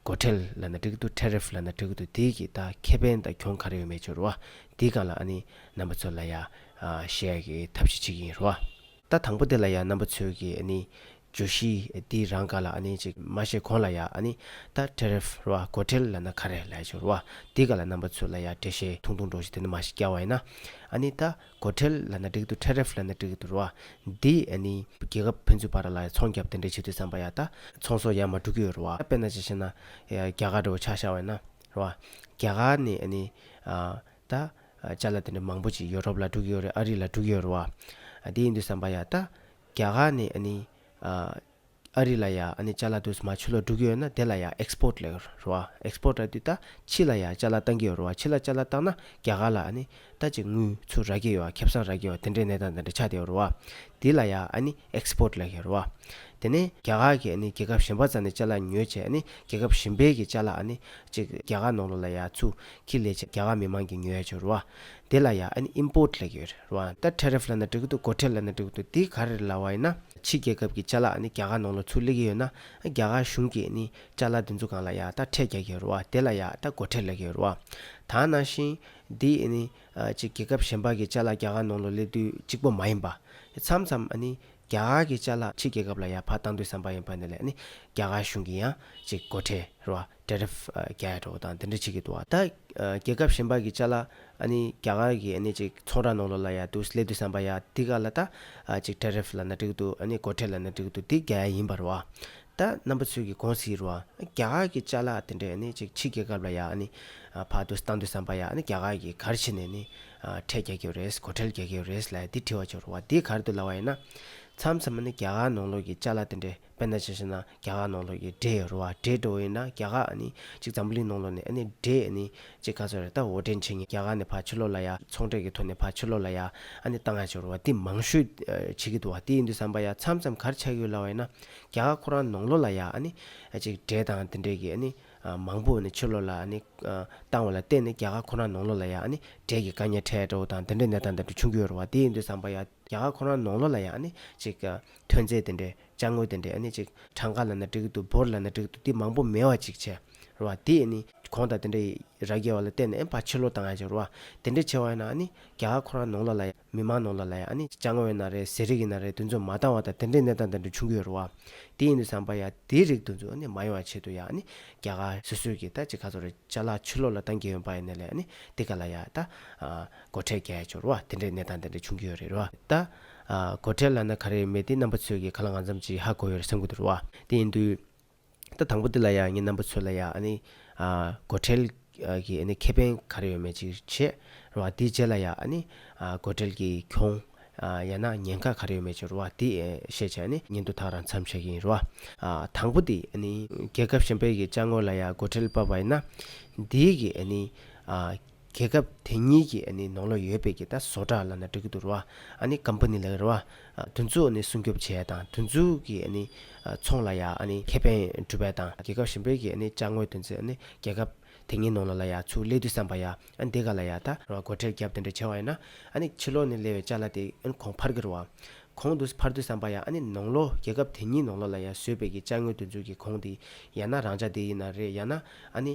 སྒོ་ཁྲལ་ལ་ན་ཀྲིག་ཏུ Tariff ལ་ན་ཀྲིག་ཏུ་དེའི་གི་ད་ཁེ་ཕན་ད་གྱོང་གར་ཡོ་མེད་ཆོ་རུ་བ་དེའི་གང་ལ་ཨ་ནི་རྣམ་པ་ཚོ་ལ་ཡ་ཤའི་གི་ཐབས་ཤིག་ཆིག་ཡིན་རུ་བ། ད་དང་པོ་དེ་ལ་ཡ་རྣམ་པ་ཚོའི་གི་ཨ་ནི་ཇོ་ཤི་དེའི་རང་ག་ལ་ཨ་ནི་ཅིག་མ་ཤེས་གོང་ལ་ཡ་ཨ་ནི་ད Tariff རུ་བ་སྒོ་ཁྲལ་ལ་ན་ཁ་རེ་ལ་ཡ་ཆོ་རུ་བ་དེའི་ག་ལ་རྣམ་པ་ཚོའི་ལ་ཡ་བྲེ་ཤའི་ཐུང་ཐུང་འགྲོ་ཤི་དེ་ནི་མ་ཤི་སྐྱ་བ་ཡིན་ན་ཨ་ནི་ད། སྒོ་ཁྲལ་ལ་ན་འགྲིག་འདུག Tariff ལ་ན་འགྲིག་འདུག་རོ། འདི་ཨ་ནི། རྒྱལ་ཁབ་ཕན་ཚུན་བར་ལ་ཚོང་བརྒྱབ་དེ་འདྲས་བྱེད་དུས་བསམ་པ་ཡག་ད། ཚོང་ཟོག་ཡ་མ་འགྲུག་གི་ཡོད་རོ། དཔེར་ན་ཅི་ཞེ་ན། རྒྱ་གར་རི་བོ་ཆགས་ཤར་བས་ན། རོ། རྒྱ་གར་ནི་ཨ་ནི། ད། བཅའ་ལ་དེ་འདྲས་མང་པོ་ཅིག་ཡོ་རོབ་ལ་འགྲུག་གི་ཡོད་རེད་ཨ་རི་ལ་འགྲུག་གི་ཡོད་རོ། འདི་ཡིན་དུས་བསམ་པ་ཡག་ད། རྒྱ་གར་ནི་ཨ་ནི། ཨ་རི་ལ་ཡང་ཨ་ནི་ལྕགས་ལ་དུས་མ་ཆུ་ལོག་སྒྲུག་གི་ཡོད་ན་དེ་ལ་ཡང Export ལས་རོ་ཨ Export ལ་དུས་ད་ཕྱི་ལ་ཡང་ལྕགས་ལ་བཏང་གི་ཡོད་རོ་ཨ་ཕྱི་ལ་ལྕགས་ལ་བཏང་ན་རྒྱ་གར་ལ་ཨ་ནི་ད་ཅིག་དངུལ་ཚུར་རག་གི་ཡོད་ཨ་ཁེབས་སང་རག་གི་ཡོད་ཨ་དེ་འདྲའི་གནས་སྟངས་དེ་འདྲ་ཆགས་བསྡད་ཡོད་རོ་ཨ་དེ་ལ་ཡང་ཨ་ནི Export ལས་གི་ཡོད་རོ་ཨ་དེ་ནས་རྒྱ་གར་གྱི་ཨ་ནི་རྒྱལ་ཁབ་གཞན་པ་ཙམ་ནས་ལྕགས་ལ་ཉོས་བྱས་ཨ་ནི་རྒྱལ་ཁབ་གཞན་པའི་གི་ལྕགས་ལ་ཨ་ནི་ཅིག་རྒྱ་གར་ནང་ལོག་ལ་ཡང་ཚུགས་ཁི་ལས་བྱས་རྒྱ་གར་མི་མང་གི་ཉོས་ཡོད་ཆོས་རོ་ཨ་དེ་ལ་ཡང་ཨན Import ལེགས་ཡོད་རེད་རོ་ཨན་ད Tariff ལ་ན་འགྲིག་གི་འདུག་སྒོ་ཁྲལ་ལ་ན་འགྲིག་གི་འདུག་དེ་ག་རེ་རེད་ལ་བ་ཡིན་ན། ཕྱི་རྒྱལ་ཁབ་ཀྱི་ལྕ་ལག་ནི་རྒྱ་གར་ནང་ལ་ཚུར་ལེགས་ཀྱི་ཡོད་ན། རྒྱ་གར་གཞུང་གིས་ནི་ལྕ་ལག་འདི་ཚོ་གང་ལ་ཡང་ད་ཁྲལ་རྒྱག་གི་ཡོད་རོ་ཨ་དེ་ལ་ཡང་ད་སྒོ་ཁྲལ་ལེགས་ཀྱི་ཡོད་རོ་ཨ། ད་ནང་བཞིན། འདི་ནི། ཅིག་རྒྱལ་ཁབ་གཞན་པ་གི་ལྕ་ལག་རྒྱ་གར་ནང་ལ་སླེབས་དུས་གཅིག་པོ་མ་ཡིན་པ། མཚམས་མཚམས་ནི། རྒྱ་གར་གྱི་ལྕ་ལག་ཕྱི་རྒྱལ་ཁབ་ལ་ཡང་ཕར་བཏང་དུས་བསམ་པ་ཡིན་པ་ནི་ལས་ནི། རྒྱ་གར་གཞུང་གི་ཡང་ཅིག་སྒོ་ཁྲལ་རོ་ཨ། ཏྲེ་རེབ་རྒྱལ་ཡ་གྲོགས་དང་འདི་འདྲ་བྱེད་ཀྱི་འདུག་ད་རྒྱལ་ཁབ་གཞན་པ་གི་བཅའ་ལ་ཨ་ནི་རྒྱ་གར་གི་ཨ་ནི་ཅིག་ཚོང་ར་ནང་ལོག་ལ་ཡ་འདུག་སླེབ་དུས་བསམ་པ་ཡ་འདི་ག་ལ་ད་ཅིག་ཏྲེ་རེབ་ལ་ན་འགྲིག་འདུག་ཨ་ནི་སྒོ་ཁྲལ་ལ་ན་འགྲིག་འདུག་འདི་རྒྱ་ཡ་ཡིན་པ་རེད་བ། ད་རྣམ་པ་ཚོས་གི་གོང་ཟིག་རེད་བ། རྒྱ་གར་གི་བཅའ་ལ་དེ་འདྲས་ཨ་ནི་ཅིག་ཕྱི་རྒྱལ་ཁབ་ལ་ཡ་ཨ་ནི་ཕག་འདུག་བཏང་འདུག་བསམ་པ་ཡ་ཨ་ནི་རྒྱ་གར་གི་གར་བྱེད་ནས་ཨ་ནི་ཁྲལ་རྒྱག་གི་རེད་སྒོ་ཁྲལ་རྒྱག་གི་རེད་ལ་ཡ་འདི་བྲིས་བ་བྱུང་རེད་བ་འདི་གར་འདུག་ལ་བ་ཡིན་ན། མཚམས་མཚམས་ཨ་ནི་རྒྱ་གར་ནང་ལོག་གི་བཅའ་ལ་དེ་འདྲས་དཔེར་ན་ཇི་ཞེ་ན་རྒྱ་གར་ནང་ལོགས་ཀྱི་སྒྲའི་རུ་བ་སྒྲའི་འགྲོ་བ་ཡིན་ན་རྒྱ་གར་ནི་གཅིག་འཛམ་བུ་གླིང་ནང་ལོགས་ནས་ནི་སྒྲའི་ནི་གཅིག་ག་ཚོད་རེད་ད་འོ་སྒྲའི་འཆད་ཉན་རྒྱ་གར་ནས་ཕར་ཕྱི་ལོགས་ལ་ཡ་ཚོང་འབྲེག་གི་ཐོག་ནས་ཕར་ཕྱི་ལོགས་ལ་ཡ་ཨ་ནི་བཏང་ཡ་ཆོས་རུ་བ་འདི་མང་ཤོས་བྱེད་ཀྱི་འདུག་བ་དེ་ཡིན་དུས་བསམ་པ་ཡ་མཚམས་མཚམས་གར་ཆགས་ཡོད་ལ་བ་ཡིན་ན་རྒྱ་གར་ཁོ་རང་ནང་ལོགས་ལ་ཡ་ཨ་ནི་གཅིག་སྒྲའི་དང་དེ་འདྲའི་གི་ཨ་ནི་མང་པོ་ནི་ཕྱི་ལོགས་ལ་ཨ་ནི་བཏང་བ་ལ་བརྟེན་ནས་རྒྱ་གར་ཁོ་རང་ནང་ལོགས་ལ་ཡ་ཨ་ནི་སྒྲའི་གི་དཀའ་ཉེ་ཕྲད་འདྲ་བོ་དང་དེ་འདྲའི་གནས་སྟངས་འདི་འདྲ་བྱུང་གི་ཡོད་རུ་བ་དེ་ཡིན་དུས་བསམ་པ་ཡ་རྒྱ་གར་ཁོ་རང་ནང་ལོགས་ལ་ཡ་ཨ་ནི་གཅིག་ཐོན་རྫས་དེ་འདྲས་བཅའ་དངོས་དེ་འདྲས་ནི་ཅིག་གྲངས་ཀ་ལ་ན་འགྲིག་འདུག་འབོར་ལ་ན་འགྲིག་འདུག་དེ་མང་པོ་མེད་བ་ཅིག་བྱས་རོ། དེས་ནི་གོང་དང་དེ་འདྲ་ཡི་ར་རྒྱས་བ་ལ་བརྟེན་ནས་ཕ་ཕྱི་ལོ་དང་ཡ་ཅིག་རོ། དེ་འདྲས་ཆེ་བ་ཡི་ན་ནི་རྒྱ་ཁོ་རང་ནོངས་ལོ་ལ་ཡ་མི་མང་ནོངས་ལོ་ལ་ཡ་ནི་བཅའ་དངོས་ཡི་ན་རེད་ཟས་རིགས་ཡི་ན་རེད་འདུ་འཛོམས་མ་བཏང་བ་དང་དེ་འདྲས་གནས་སྟངས་དེ་འདྲས་བྱུང་གི་ཡོད་རོ། དེ་ཡིན་དུ་བསམ་པ་ཡ་དེའི་རིགས་འདུ་འཛོམས་ནི་མ་ཡོང་བ་ཆེད་དུ་ཡ་ནི་རྒྱ་ག་སོ་སོས་ཀྱི་ད་ཅིག་ག་ཚོ་རེད་བཅའ་ལག་ཕྱི་ལོ་ལ་བཏང་གི་ཡོད་པ་ཡི་ན་ལ་ཡ་ནི་དེ་ག་ལ་ཡ་ད། སྒོ་ཁྲལ་རྒྱ་ཡ་ཅིག་རོ་བ་དེ་འདྲས་གནས་སྟངས་དེ་འདྲས་བྱུང་གི་ཡོད་རེད་རོ། ད། གོ་ཁྲེལ་ལ་ན་ག་རེ་མེད་དེ་རྣམ་པ་ཚོས་ཀྱི་ག་ལ་ང་འཛམ་གྱི་ཧ་གོ་ཡོད་རེ་སེམས་གོ་དུ་རུ་བ་དེ་ཡིན་དུས། ད་དང་པོ་འདི་ལ་ཡང་ངས་རྣམ་པ་ཚོས་ལ་ཡང་ཨ་ནི། གོ་ཁྲེལ་གྱི་ཨ་ནི་ཁེ་ཕན་ག་རེ་ཡོད་མེད་ཅིག་བྱེད་རུ་བ་དེའི་རྗེས་ལ་ཡང་ཨ་ནི། གོ་ཁྲེལ་གྱི་གྱོང། ཡང་ན་ཉེན་ཁ་ག་རེ་ཡོད་མེད་ཅིག་རུ་བ་དེ་བཤད་བྱས་ཨ་ནི། ཉིན་ཐོ་དག་རང་འཚམས་བྱེད་ཀྱི་ཡིན་རུ་བ། དང་པོ་དེ་ཨ་ནི། རྒྱལ་ཁབ་གཞན་པའི་གི་བཅའ་ངོར་ལ་ཡང་གོ་ཁྲེལ་བབས་བ་ཡིན་ན། དེའི་གི་ཨ་ནི། རྒྱལ་ཁབ་དེ་གཉིས་ཀྱི་ནང་ལོག་ཡོད་པའི་ཀྱི་ད་བཟོ་གྲྭ་ལ་ན་འགྲིག་གི་འདུག་ར་བ་ནི་ཀམ་པ་ནི་ལ་གི་ར་བ་དུ་འཛུགས་ནི་སྲུང་སྐྱོབ་བྱས་དང་དུ་འཛུགས་ཀྱི་ནི་ཚོང་ལ་ཡ་ནི་ཁེ་ཕན་སྒྲུབ་པའི་དང་རྒྱལ་ཁབ་གཞན་པའི་ཀྱི་ནི་བཅའ་དངོས་དུ་འཛིན་ནི་རྒྱལ་ཁབ་དེ་གཉིས་ནང་ལོག་ལ་ཡ་ཚུགས་སླེ་དུས་བསམ་པ་ཡ་འདི་ག་ལ་ཡ་ད་ར་བ་སྒོ་ཁྲལ་རྒྱབ་དེ་འདྲ་བྱས་བ་ཡ་ན་ནི་ཕྱི་ལོག་ནི་སླེ་བའི་བཅའ་ལ་དེ་གོང་འཕར་གི་ར་བ་གོང་དུ་འཕར་དུས་བསམ་པ་ཡ་ནི་ནང་ལོག་རྒྱལ་ཁབ་དེ་གཉིས་ནང་ལོག་ལ་ཡ་བཟོས་པའི་ཀྱི་བཅའ་དངོས་དུ་འཛུགས་ཀྱི་གོང་དེ་ཡ་ན་རང་བཅའ་དེ་ཡིན་ན་རེད་ཡ་ན་ནི།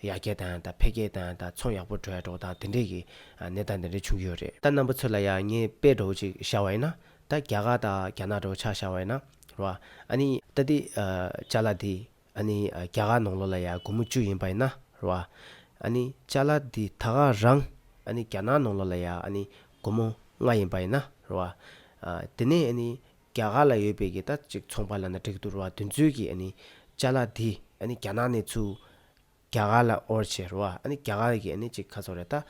ཡར་རྒྱས་དང་དང་འཕེལ་རྒྱས་དང་དང་ཚོང་ཡག་པོ་འགྲོ་ཡ་འགྲོ་དང་དེ་འདྲས་ཀྱི་གནས་སྟངས་དེ་འདྲས་བྱུང་གི་ཡོད་རེད། ད་རྣམ་པ་ཚོས་ལ་ཡང་ངས་དཔེ་སྒྲོག་གཅིག་བཞག་བ་ཡིན་ན། ད་རྒྱ་གར་དང་རྒྱ་ནག་འདྲའོ་ཆ་བཞག་བ་ཡིན་ན་རེད་བ། ཨ་ནི། ད་འདི། ལྕགས་ལ་འདི། ཨ་ནི། རྒྱ་གར་ནང་ལོ་ལ་ཡ་དགུ་མོ་བཅུ་ཡིན་པ་ཡིན་ན་རེད་བ། ཨ་ནི། ལྕགས་ལ་འདི་ད་ག་རང། ཨ་ནི་རྒྱ་ནག་ནང་ལོ་ལ་ཡ་ཨ་ནི། དགུ་མོ་ལྔ་ཡིན་པ་ཡིན་ན་རེད་བ། དེ་ནས་ཨ་ནི། རྒྱ་གར་ལ་ཡོད་པའི་གི་ད་ཅིག་ཚོང་པ་ལ་ན་དྲེག་དུར་བ་དུས་མཛོད་ཀྱི་ཨ་ནི་ལྕ་ལ་དེ་ཨ་ནི་རྒྱ་ནག་ནས་ཚུ། རྒྱ་གར་ལ་ཨོར་ཆེ་རུ་བ་ཨ་ནི་རྒྱ་གར་གི་ཨ་ནི་ཅིག་ཁ་ཚོར་རེ་ད་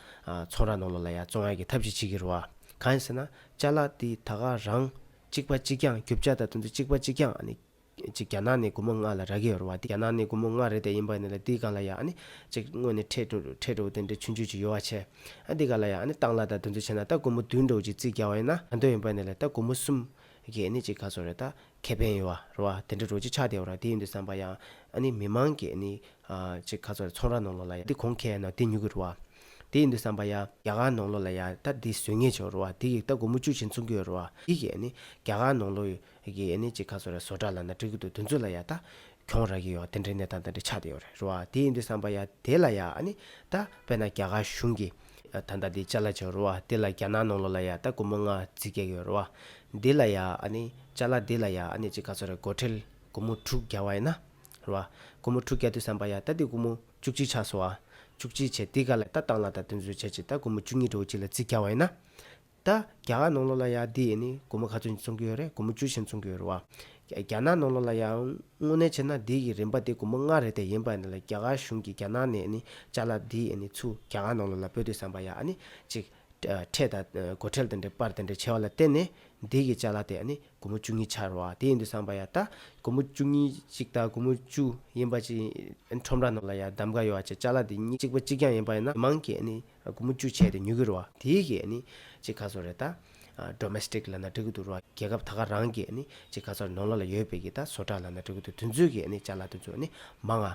ཚོང་ར་ནོ་ལོ་ལ་ཡ་ཙོང་ཡ་གི་ཐབས་ཅིག་བྱེད་གི་རུ་བ་གང་ཡིན་ཟེར་ན་ལྕ་ལ་དེ་ད་ག་རང་གཅིག་པ་གཅིག་ཀྱང་རྒྱུ་བྱ་ད་དུ་མཛོད་གཅིག་པ་གཅིག་ཀྱང་ཨ་ནི། གཅིག་རྒྱ་ནག་ནས་དགུ་མོ་ལྔ་ལ་ར་གི་ཡོར་བ་དེ་རྒྱ་ནག་ནས་དགུ་མོ་ལྔ་རེད་དེ་ཡིན་པ་ནི་ལ་དེའི་གང་ལ་ཡང་ཨ་ནི། གཅིག་དངོས་ནས་ཁྲེས་འགྲོ་འགྲོ་འགྲོ་དེ་འདྲའི་ཆུ་འཇུས་ཀྱི་ཡོ་བ་ཆེ། ཨ་དེ་ག་ལ་ཡང་ཨ་ནི་སྟག་ལ་དང་དུ་འཛུལ་བྱས་ན་ད་དགུ་མོ་བདུན་འགྲོ་གཅིག་རྩིས་རྒྱག་བ་ཡིན་ན་ག་འདོད་ཡིན་པ་ནི་ལ་ད་དགུ་མོ་གསུམ། གི་ཨ་ནི་གཅིག་ག་ཚོད་རེད་ད་ཁེ་ཕན་ཡོ་བ་རོ་བ་དེ་འདྲ་འགྲོ་གཅིག་ཆགས་བསྡད་ཡོ་ར་དེ་ཡིན་དུ་བསམ་པ་ཡང་ཨ་ནི་མི་མང་གི་ཨ་ནི། གཅིག་ག་ཚོད་རེད་ཚོང་ར་ནང་ལོག་ལ་ཡང་དེ་གོང་ཁེ་ཡ་ན་དེ་ཉུག་གི་རོ་བ། དེ་ཡིན་དུ་བསམ་པ་ཡང། རྒྱ་གར་ནང་ལོག་ལ་ཡང་ད་དེ་བཟོས་ངེས་ཆོག་རོ་བ་དེ་གིས་ད་དགུ་མོ་བཅུ་བཞིན་བཙོང་གི་ཡོ་རོ་བ་དེ་གིས་ཨ་ནི་རྒྱ་གར་ནང་ལོག་ཡོད་གི་ཨེ་ནི་ཅི་ཁ་སོ་ར་སོ་དྲ་ལ་ན་དྲི་གུ་དུ་དུ་འཛུ་ལ་ཡ་ད་གྱོང་ར་གི་ཡོ་དེ་འདྲའི་ནད་ད་ད་འདྲའི་ཆགས་དེ་ཡོ་རེ་རོ་བ་དེ་ཡིན་དུ་བསམ་པ་ཡ་དེ་ལ་ཡ་ཨ་ནི་ད་པེ་ན་རྒྱ་གར་གཞུང་གི་ད་ད་དེ་ཅ་ལ་ཅོ་རོ་བ་དེ་ལ་རྒྱ་ནག་ནང་ལོ་ལ་ཡ་ད་གུ་མོ་ང་ཛི་གེ་གི་ཡོ་རོ་བ་དེ་ལ་ཡ་ཨ་ནི་ཅ་ལ་དེ་ལ་ཡ་ཨ་ནི་ཅི་ཁ་སོ་ར་གོ་ཁྲེལ་གུ་མོ་དྲུག་བརྒྱ་བ་ཡ་ན་རོ་བ་གུ་མོ་དྲུག་བརྒྱ་དུ་བསམ་པ་ཡ་ད་དེ་གུ་མོ་བཅུ་གཅིག་ཆགས་སོ་བ་བཅུ་གཅིག་བྱེ་དེ་ག་ལ་ད་བཏང་ལ་ད་དུ་འཛུ་བྱེ་ཅི་ད་གུ་མོ་བཅུ་གཉིས་དྲུག་གཅིག་ལ་ཙི་བརྒྱ་བ་ཡ་ན་ད་རྒྱ་གར་ནང་ལོགས་ལ་ཡང་འདི་ཡིན་ནི་སྒོར་མོ་ག་ཚོད་འཚོང་གི་ཡོད་རེད་སྒོར་མོ་བཅུ་ཆེན་འཚོང་གི་ཡོད་རེད་བ། རྒྱ་ནག་ནང་ལོགས་ལ་ཡང་དངོས་གནས་བྱས་ན་འདི་ཡི་རིན་པ་དེ་སྒོར་མོ་ལྔ་རེད་དེ་ཡིན་པ་ནི་ལ་རྒྱ་གར་གཞུང་གིས་རྒྱ་ནག་ནས་ནི་ཅག་ལ་འདི་ཡིན་ནི་ཚུ་རྒྱ་གར་ནང་ལོགས་ལ་སྤོས་དུས་བསམ་པ་ཡ་ནི་ཅིག། ཁྲལ་དང་སྒོར་ཁྲལ་དེ་འདྲའི་པར་དེ་འདྲའི་བྱས་བ་ལ་བརྟེན་ནས་འདི་གིས་ཅག་ལ་དེ་ཡ་ནི་སྒོར་མོ་བཅུ་གཉིས་ཆག་རེད་བ་དེ་ཡིན་དུ་བསམ་པ་ཡ་ད་སྒོར་མོ་བཅུ་གཉིས་ཅིག་དང་སྒོར་མོ་བཅུ་ཡིན་པ་ཅིག་ཡིན་ཁྲོམ་ར་ནང་ལ་ཡ་གདམ་ག་ཡོད་བ་ཅིག་ཅག་ལ་འདི་གཉིས་གཅིག་པ་གཅིག་རྐྱང་ཡིན་པ་ཡིན་ན་མི་མང་གིས་ནི་དགུ་མོ་བཅུ་བྱས་ཏེ་ཉོ་གི་རུ་བ། དེའི་གི་ནི། ཅི་ཁ་ཚོ་རེ་ད། Domestic། ལ་ན་འབྲི་གི་འདུག་རུ་བ། རྒྱལ་ཁབ་ད་ག་རང་གི་ནི། ཅི་ཁ་ཚོ་རེ་ནོར་ལ་ལ་ཡོད་པའི་གི་ད་བཟོ་གྲ་ལ་ན་འབྲི་གི་འདུག་དུས་ཚོད་གི་ནི་ཅར་ལ་དུས་ཚོད་ནི། མ་ང།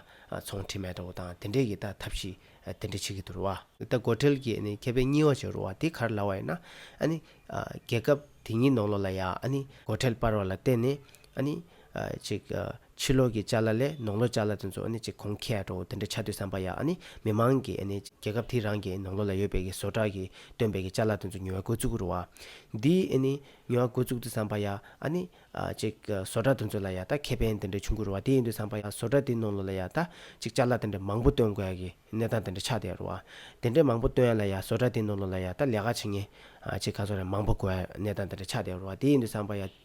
ཚོང་ཁྲི་མེ་ཏོ་བོ་དང་དེ་འདྲའི་གི་ད་ཐབས་ཤི། དེ་འདྲ་བྱེད་གི་འདུག་རུ་བ། ད་སྒོ་ཁྲལ་གི་ནི་ཁེ་ཕན་གཉིས་བ་བྱེད་རུ་བ་དེ་གར་ལ་བ་ཡིན་ན། ཨ་ནི། རྒྱལ་ཁབ་དེ་གཉིས་ནོར་ལོ་ལ་ཡ་ཨ་ནི། སྒོ་ཁྲལ་སྤར་བ་ལ་བརྟེན་ནི། ཨ་ནི། ཅིག། ཕྱི་ལོག་གི་བཅའ་ལ་ལས་ནོག་ལོ་བཅའ་ལ་དེ་ཚོ་ནི་ཅི་གོང་ཁའི་ཀྲོའུ་དེ་འདྲ་ཆ་དུས་བསམ་པ་ཡག་ནི་མི་མང་གི་ནི་རྒྱལ་ཁབ་དེའི་རང་གི་ནོག་ལོ་ལ་ཡོད་པའི་གི་བཟོ་གྲྭ་གི་སྟོན་པའི་གི་བཅའ་ལ་དེ་ཚོ་ཉུལ་བ་དགོས་ཚུགས་རུ་བ། འདིའི་ནི་ཉུལ་བ་དགོས་ཚུགས་དུས་བསམ་པ་ཡག་ནི་ཅིག་བཟོ་གྲྭ་དེ་ཚོ་ལ་ཡག་ད་ཁེ་ཕན་དེ་འདྲ་ཆུང་གི་རུ་བ་དེ་ཡིན་དུས་བསམ་པ་ཡག་བཟོ་གྲྭ་དེའི་ནོག་ལོ་ལ་ཡག་ད་ཅིག་བཅའ་ལ་དེ་འདྲ་མང་པོ་སྟོན་དགོས་ཡ་གི་གནས་སྟངས་དེ་འདྲ་ཆགས་བསྡད་རུ་བ། དེ་འདྲ་མང་པོ་སྟོན་ཡ་ལ་ཡག་བཟོ་གྲྭ་དེའི་ནོག་ལོ་ལ་ཡག་ད་ལས་ཀ་བྱེད་ངེས་ཅིག་ག་ཚོད་རེད་མང་པོ་དགོས་ཡ་གནས་སྟངས་དེ་འདྲ་ཆགས་བསྡད་རུ་བ་དེ་ཡིན་དུས་བསམ་པ་ཡག།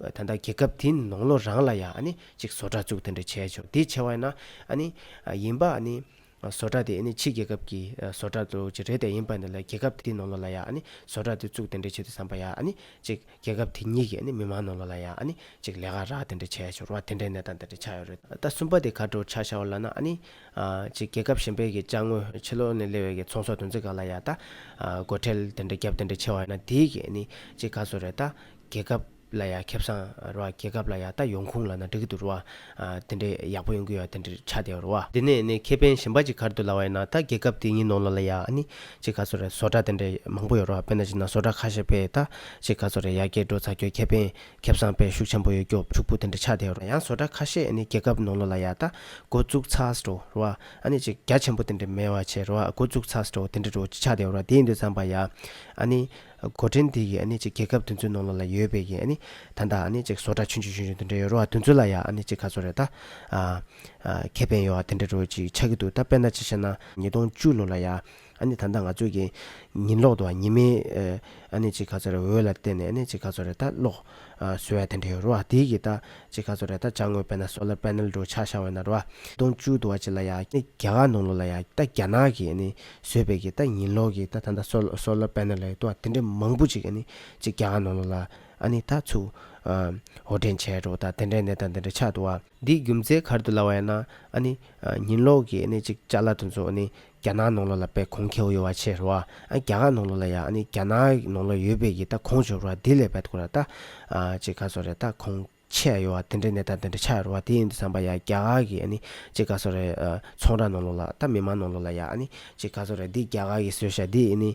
ད་ལྟ་རྒྱལ་ཁབ་དེའི་ནང་ལོ་རང་ལ་ཡང་ནི་གཅིག་བཟོ་གྲྭ་བཙུགས་དེ་འདྲ་བྱས་ཆོག་དེ་བྱས་བས་ན་ནི་ཡིན་པ་ནི་བཟོ་གྲྭ་དེ་ནི་ཕྱི་རྒྱལ་ཁབ་ཀྱི་བཟོ་གྲྭ་དུ་ཅིག་རེད་དེ་ཡིན་པ་འདི་ལ་རྒྱལ་ཁབ་དེའི་ནང་ལོ་ལ་ཡང་ནི་བཟོ་གྲྭ་དེ་བཙུགས་དེ་འདྲ་བྱས་ཏེ་བསམ་པ་ཡང་ནི་གཅིག་རྒྱལ་ཁབ་དེ་ཉིད་ཀྱི་ནི་མི་མང་ནང་ལོ་ལ་ཡང་ནི་གཅིག་ལས་ཀ་རག་དེ་འདྲ་བྱས་ཆོག་རུང་བ་དེ་འདྲའི་གནས་སྟངས་དེ་འདྲ་ཆགས་ཡོད་རེད་ད་ལྟ་གསུམ་པ་དེ་ག་འདྲ་བོར་ཆགས་ཤག་བ་ལ་ན་ནི་གཅིག་རྒྱལ་ཁབ་གཞན་པའི་གི་དཔྱ་དངུལ་ཕྱི་ལོག་ནས་སླེ་བའི་གི་ཚོང་ཟོག་དུ་འཛི་ག་ལ་ཡང་ད་སྒོ་ཁྲལ་དེ་འདྲ་རྒྱབ་དེ་འདྲ་ཆེ་བ་ན་དེའི་གི་ནི་གཅིག་ག་ཚོད་རེད་ད་རྒྱལ་ཁབ་ལ་ཡ་ཁེབས་སང་ར་བ་རྒྱལ་ཁབ་ལ་ཡ་ད་ཡོང་ཁུང་ལ་ན་འགྲིག་གི་འདུག་ར་བ་དེ་འདྲས་ཡག་པོ་ཡོང་གི་ཡོ་ད་འདྲིར་ཆ་དེ་ར་བ། དེ་ནས་ནས་ཁེ་ཕན་ཞིམ་པ་ཅིག་གར་འདུག་ལ་བ་ཡ་ན་ད་རྒྱལ་ཁབ་དེ་ཉིན་ནོང་ལོ་ལ་ཡ་ཨ་ནི་ཅིག་ག་ཚོ་ར་བཟོ་གྲ་དེ་འདྲས་མང་པོ་ཡོ་ར་བ་དཔེ་ན་ཅིག་ན་བཟོ་གྲ་ཁ་ཤས་པས་ད་ཅིག་ག་ཚོ་ར་ཡ་རྒྱལ་འགྲོ་ཚ་ཁྱོ་ཁེ་ཕན་ཁེབས་སང་པས་ཤུགས་ཆེན་པོ་ཡོ་སྐྱོབ་ཕྱུག་པོ་དེ་འདྲས་ཆ་དེ་ར་ཡང་བཟོ་གྲ་ཁ་ཤས་ཨ་ནི་རྒྱལ་ཁབ་ནོང་ལོ་ལ་ཡ་ད་འགོ་བཙུགས་ཚགས་འགྲོ་ར་བ་ཨ་ནི་ཅིག་རྒྱ་ཆེན་པོ་དེ་འདྲས་མེད་བ་ཆེ་ར་བ་འགོ་བཙུགས་ཚགས་འགྲོ་དེ་འདྲས་འགྲོ་ཅིག་ཆ་དེ་ར་བ་དེ་ཡིན་དུས་ཚང་པ་ཡ་ཨ་ནི། གོ་ཕྲེང་དེ་ཡིས་ནི་རྒྱལ་ཁབ་དེ་ཚོའི་ནང་ལོགས་ལ་ཡོད་པའི་ཡིན་ནི་ད་ལྟ་ནི་བཟོ་གྲྭ་ཆུང་ཆུང་ཆུང་ཆུང་དེ་འདྲ་ཡོད་རུང་དེ་ཚོ་ལ་ཡང་ནི་ག་ཚོད་རེད་ད། ཁེ་ཕན་ཡོད་དེ་འདྲ་རུ་ཅིག་ཆགས་ཀྱི་འདུག་ད་དཔེར་ན་ཅིག་བཤད་ན། ཉིས་སྟོང་བཅུ་ལོ་ལ་ཡང་ནི་ད་ལྟ་ང་ཚོས་ཀྱི་ཉིན་ལོག་ཏུ་ཉི་མའི་ནི་ཅིག་ག་ཚོད་རེད་འོད་ལ་བལྟས་ནས་ནི་ཅིག་ག་ཚོད་རེད་ད་ལོགས་སུ་ཡ་དེ་འདྲ་ཡོད་རུང་དེ་ཡིས་ད་ཅིག་ག་ཚོད་རེད་ད་བྱ་དངོས་དཔེར་ན Solar Panel འདྲ་བོ་ཆགས་ཤག་འོད་ན་རུང། ཉིས་སྟོང་བཅུ་དུ་བ་ཅིག་ལ་ཡང་ནི་རྒྱ་གར་ནང་ལོགས་ལ་ཡང་ད་རྒྱ་ནག་གི་ནི་བཟོས་པའི་གི་ད་ཉིན་ལོག་གི་ད་ད་ད་སོ་སོ་ལ་པན་ན་ལའི་ཏོ་དེ་འདྲའི་མང་པོ་ཅིག་ཨ་ནི་ཅིག་རྒྱ་གར་ནང་ལོག་ལ་ཨ་ནི་ད་ཚུ་ཧོ་དྲན་བྱས་འགྲོ་ད་དེ་འདྲའི་ནས་ད་དེ་འདྲའི་ཆགས་འདུག་ཨ། འདི་རྒྱུ་མཚན་གར་དུ་ལ་བ་ཡ་ན་ཨ་ནི་ཉིན་ལོག་གི་ཨ་ནི་ཅིག་ཅག་ལ་དུ་ཚོ་ཨ་ནི་རྒྱ་ནག་ནང་ལོག་ལ་པའི་གོང་ཁེའོ་ཡོ་བ་ཆེ་རོ་ཨ་རྒྱ་གར་ནང་ལོག་ལ་ཡ་ཨ་ནི་རྒྱ་ནག་ནང་ལོག་ཡོད་པའི་གི་ད་གོང་བྱོ་རོ་ཨ་དེ་ལས་པད་ཀོ་ར་ད་ཅིག་ག་ཚོ་རེ་ད་གོང། ཆད་ཡོད་བ་དེ་འདྲའི་གནས་སྟངས་དེ་འདྲ་ཆགས་ཡོད་རེད་བ་དེ་ཡིན་དུ་བསམ་པ་ཡ་རྒྱ་གར་གྱི་ཨ་ནི་ཅི་ག་ཚོ་རེད་ཚོང་ར་ནང་ལོགས་ལ་ད་མི་མང་ནང་ལོགས་ལ་ཡ་ཨ་ནི་ཅི་ག་ཚོ་རེད་འདི་རྒྱ་གར་གྱི་སོད་ཤ་འདི་ཨི་ནི་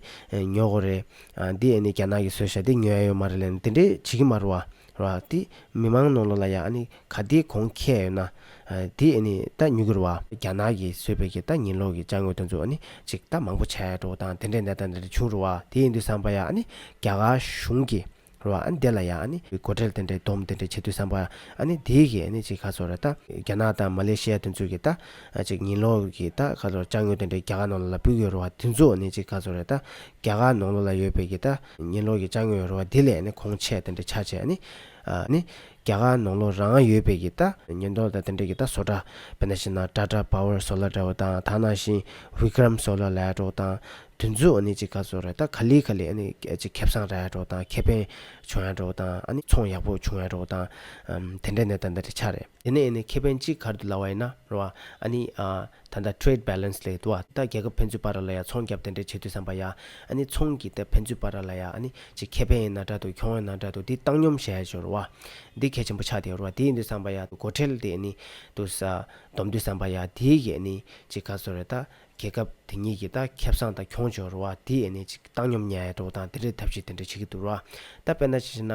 ཉོ་གོ་རེད་ཨ་འདི་ཨི་ནི་རྒྱ་ནག་གྱི་སོད་ཤ་འདི་ཉོ་ཡ་ཡོད་མ་རེད་ལན་དེ་འདྲའི་བྱེད་ཀྱི་མ་རུ་བ་རེད་བ་དེ་མི་མང་ནང་ལོགས་ལ་ཡ་ཨ་ནི་ག་དེའི་གོང་ཁྱད་ཡོད་ན་དེ་ཨི་ནི་ད་ཉོ་གི་རུ་བ། རྒྱ་ནག་གྱི་སོད་བེད་ཀྱི་ད་ཉིན་ལོགས་ཀྱི་བཅའ་དངོས་དོན་ཚོ་ཨ་ནི་ཅི་ད་མང་པོ་ཆགས་ཡོད་འགྲོ་བ་དང་དེ་འདྲའི་གནས་སྟངས་དེ་འདྲ་བྱུང་རུ་བ་དེ་ཡིན་དུ་བསམ་པ་ཡ་ཨ་ནི་རྒྱ་གར་གཞུང་གྱི་རོ། ཨ་ནི་དེ་ལ་ཡང་ཨ་ནི། སྒོ་ཁྲལ་དེ་འདྲའི་སྡོམ་དེ་འདྲའི་བྱེད་དུས་བསམ་པ། ཨ་ནི་དེའི་གིས་ཨ་ནི་ཅིག་ཁ་ཚོར་རེད་ད། རྒྱ་ནག་དང་མ་ལེ་ཤི་ཡ་དེ་ཚོའི་གིས་ད། ཅིག་ཉིན་ལོག་གིས་ད་ཁ་ཚོར་ལྕགས་སྨྱུག་དེ་འདྲའི་རྒྱ་གར་ནང་ལོག་ལ་སྤུད་དགོས་རོ་བ་དེ་ཚོ་ཨ་ནི་ཅིག་ཁ་ཚོར་རེད་ད། རྒྱ་གར་ནང་ལོག་ལ་ཡོད་པའི་གིས་ད། ཉིན་ལོག་གི་ལྕགས་སྨྱུག་ཡོད་རོ་བ་དེ་ལས་ཨ་ནི་གོང་ཆད་དེ་འདྲའི་ཆ་བྱས་ཨ་ནི། ཨ་ནི། རྒྱ་གར་ནང་ལོག་རང་ཨ་ཡོད་པའི་གིས་ད། ཉིན་ལྡོག་ད་དེ་འདྲའི་གིས་ད་བཟོ་གྲྭ། བེ་ན་ཤི་ན་ཏྲ་ཏྲ་པཱ་ཝར་བཟོ་ལ་འདྲ་བོ་དང་ཐ་ན་ཤིང་བྷི་ཀི་རམ་བཟོ་ལ་ལས་གྲོགས་དང། དུས་ཚོད་ཨ་ནི་ཅིག་ག་ཚོད་རེད་ད་ག་ལི་ག་ལི་ཨ་ནི་ཅིག་ཁེབས་སང་ར་ཡག་འགྲོ་དང་ཁེ་ཕན་བྱུང་ཡག་འགྲོ་དང་ཨ་ནི་ཚོང་ཡག་པོ་བྱུང་ཡག་འགྲོ་དང་དེ་འདྲའི་ནད་ད་ད་དྲི་ཆ་རེད་དེ་ནས་ཨ་ནི་ཁེ་ཕན་ཅིག་གར་དུ་ལ་བ་ཡིན་ན་ར་བ་ཨ་ནི་ད་ད Trade Balance ལས་དུ་བ་ད་རྒྱལ་ཁབ་ཕན་ཚུན་བར་ར་ལ་ཡ་ཚོང་རྒྱབ་དེ་འདྲའི་བྱེད་དུས་སམ་པ་ཡ་ཨ་ནི་ཚོང་གི་ད་ཕན་ཚུན་བར་ར་ལ་ཡ་ཨ་ནི་ཅིག་ཁེ་ཕན་ཡིན་ན་དྲ་དུ་གྱོང་ཡིན་ན་དྲ་དུ་དེ་བཏང་སྙོམས་བྱས་ཆོག་ར་བ་དེ་གལ་ཆེན་པོ་ཆགས་དེ་ར་བ་དེ་ཡིན་དུས་སམ་པ་ཡ་སྒོ་ཁྲལ་དེ་ཨ་ནི་དུ་ས་བསྡོམས་དུས་སམ་པ་ཡ་དེའི་གི་ཨ་ནི་ཅིག་ག་ཚོད་རེད་ད་རྒྱལ་ཁབ་དེ་གཉིས་ཀྱི་ད་ཁེབ་སང་ད་ཁྱོང་འབྱོར་བ་དེ་ཨེ་ནས་ཅིག་བཏང་སྙོམ་ཉའི་འགྲོ་བ་དང་དེ་འདྲའི་ཐབས་ཤེས་དེ་འདྲ་བྱེད་ཀྱི་འདུག་ར་ད་དཔེར་ན་ཅི་ཞེ་ན།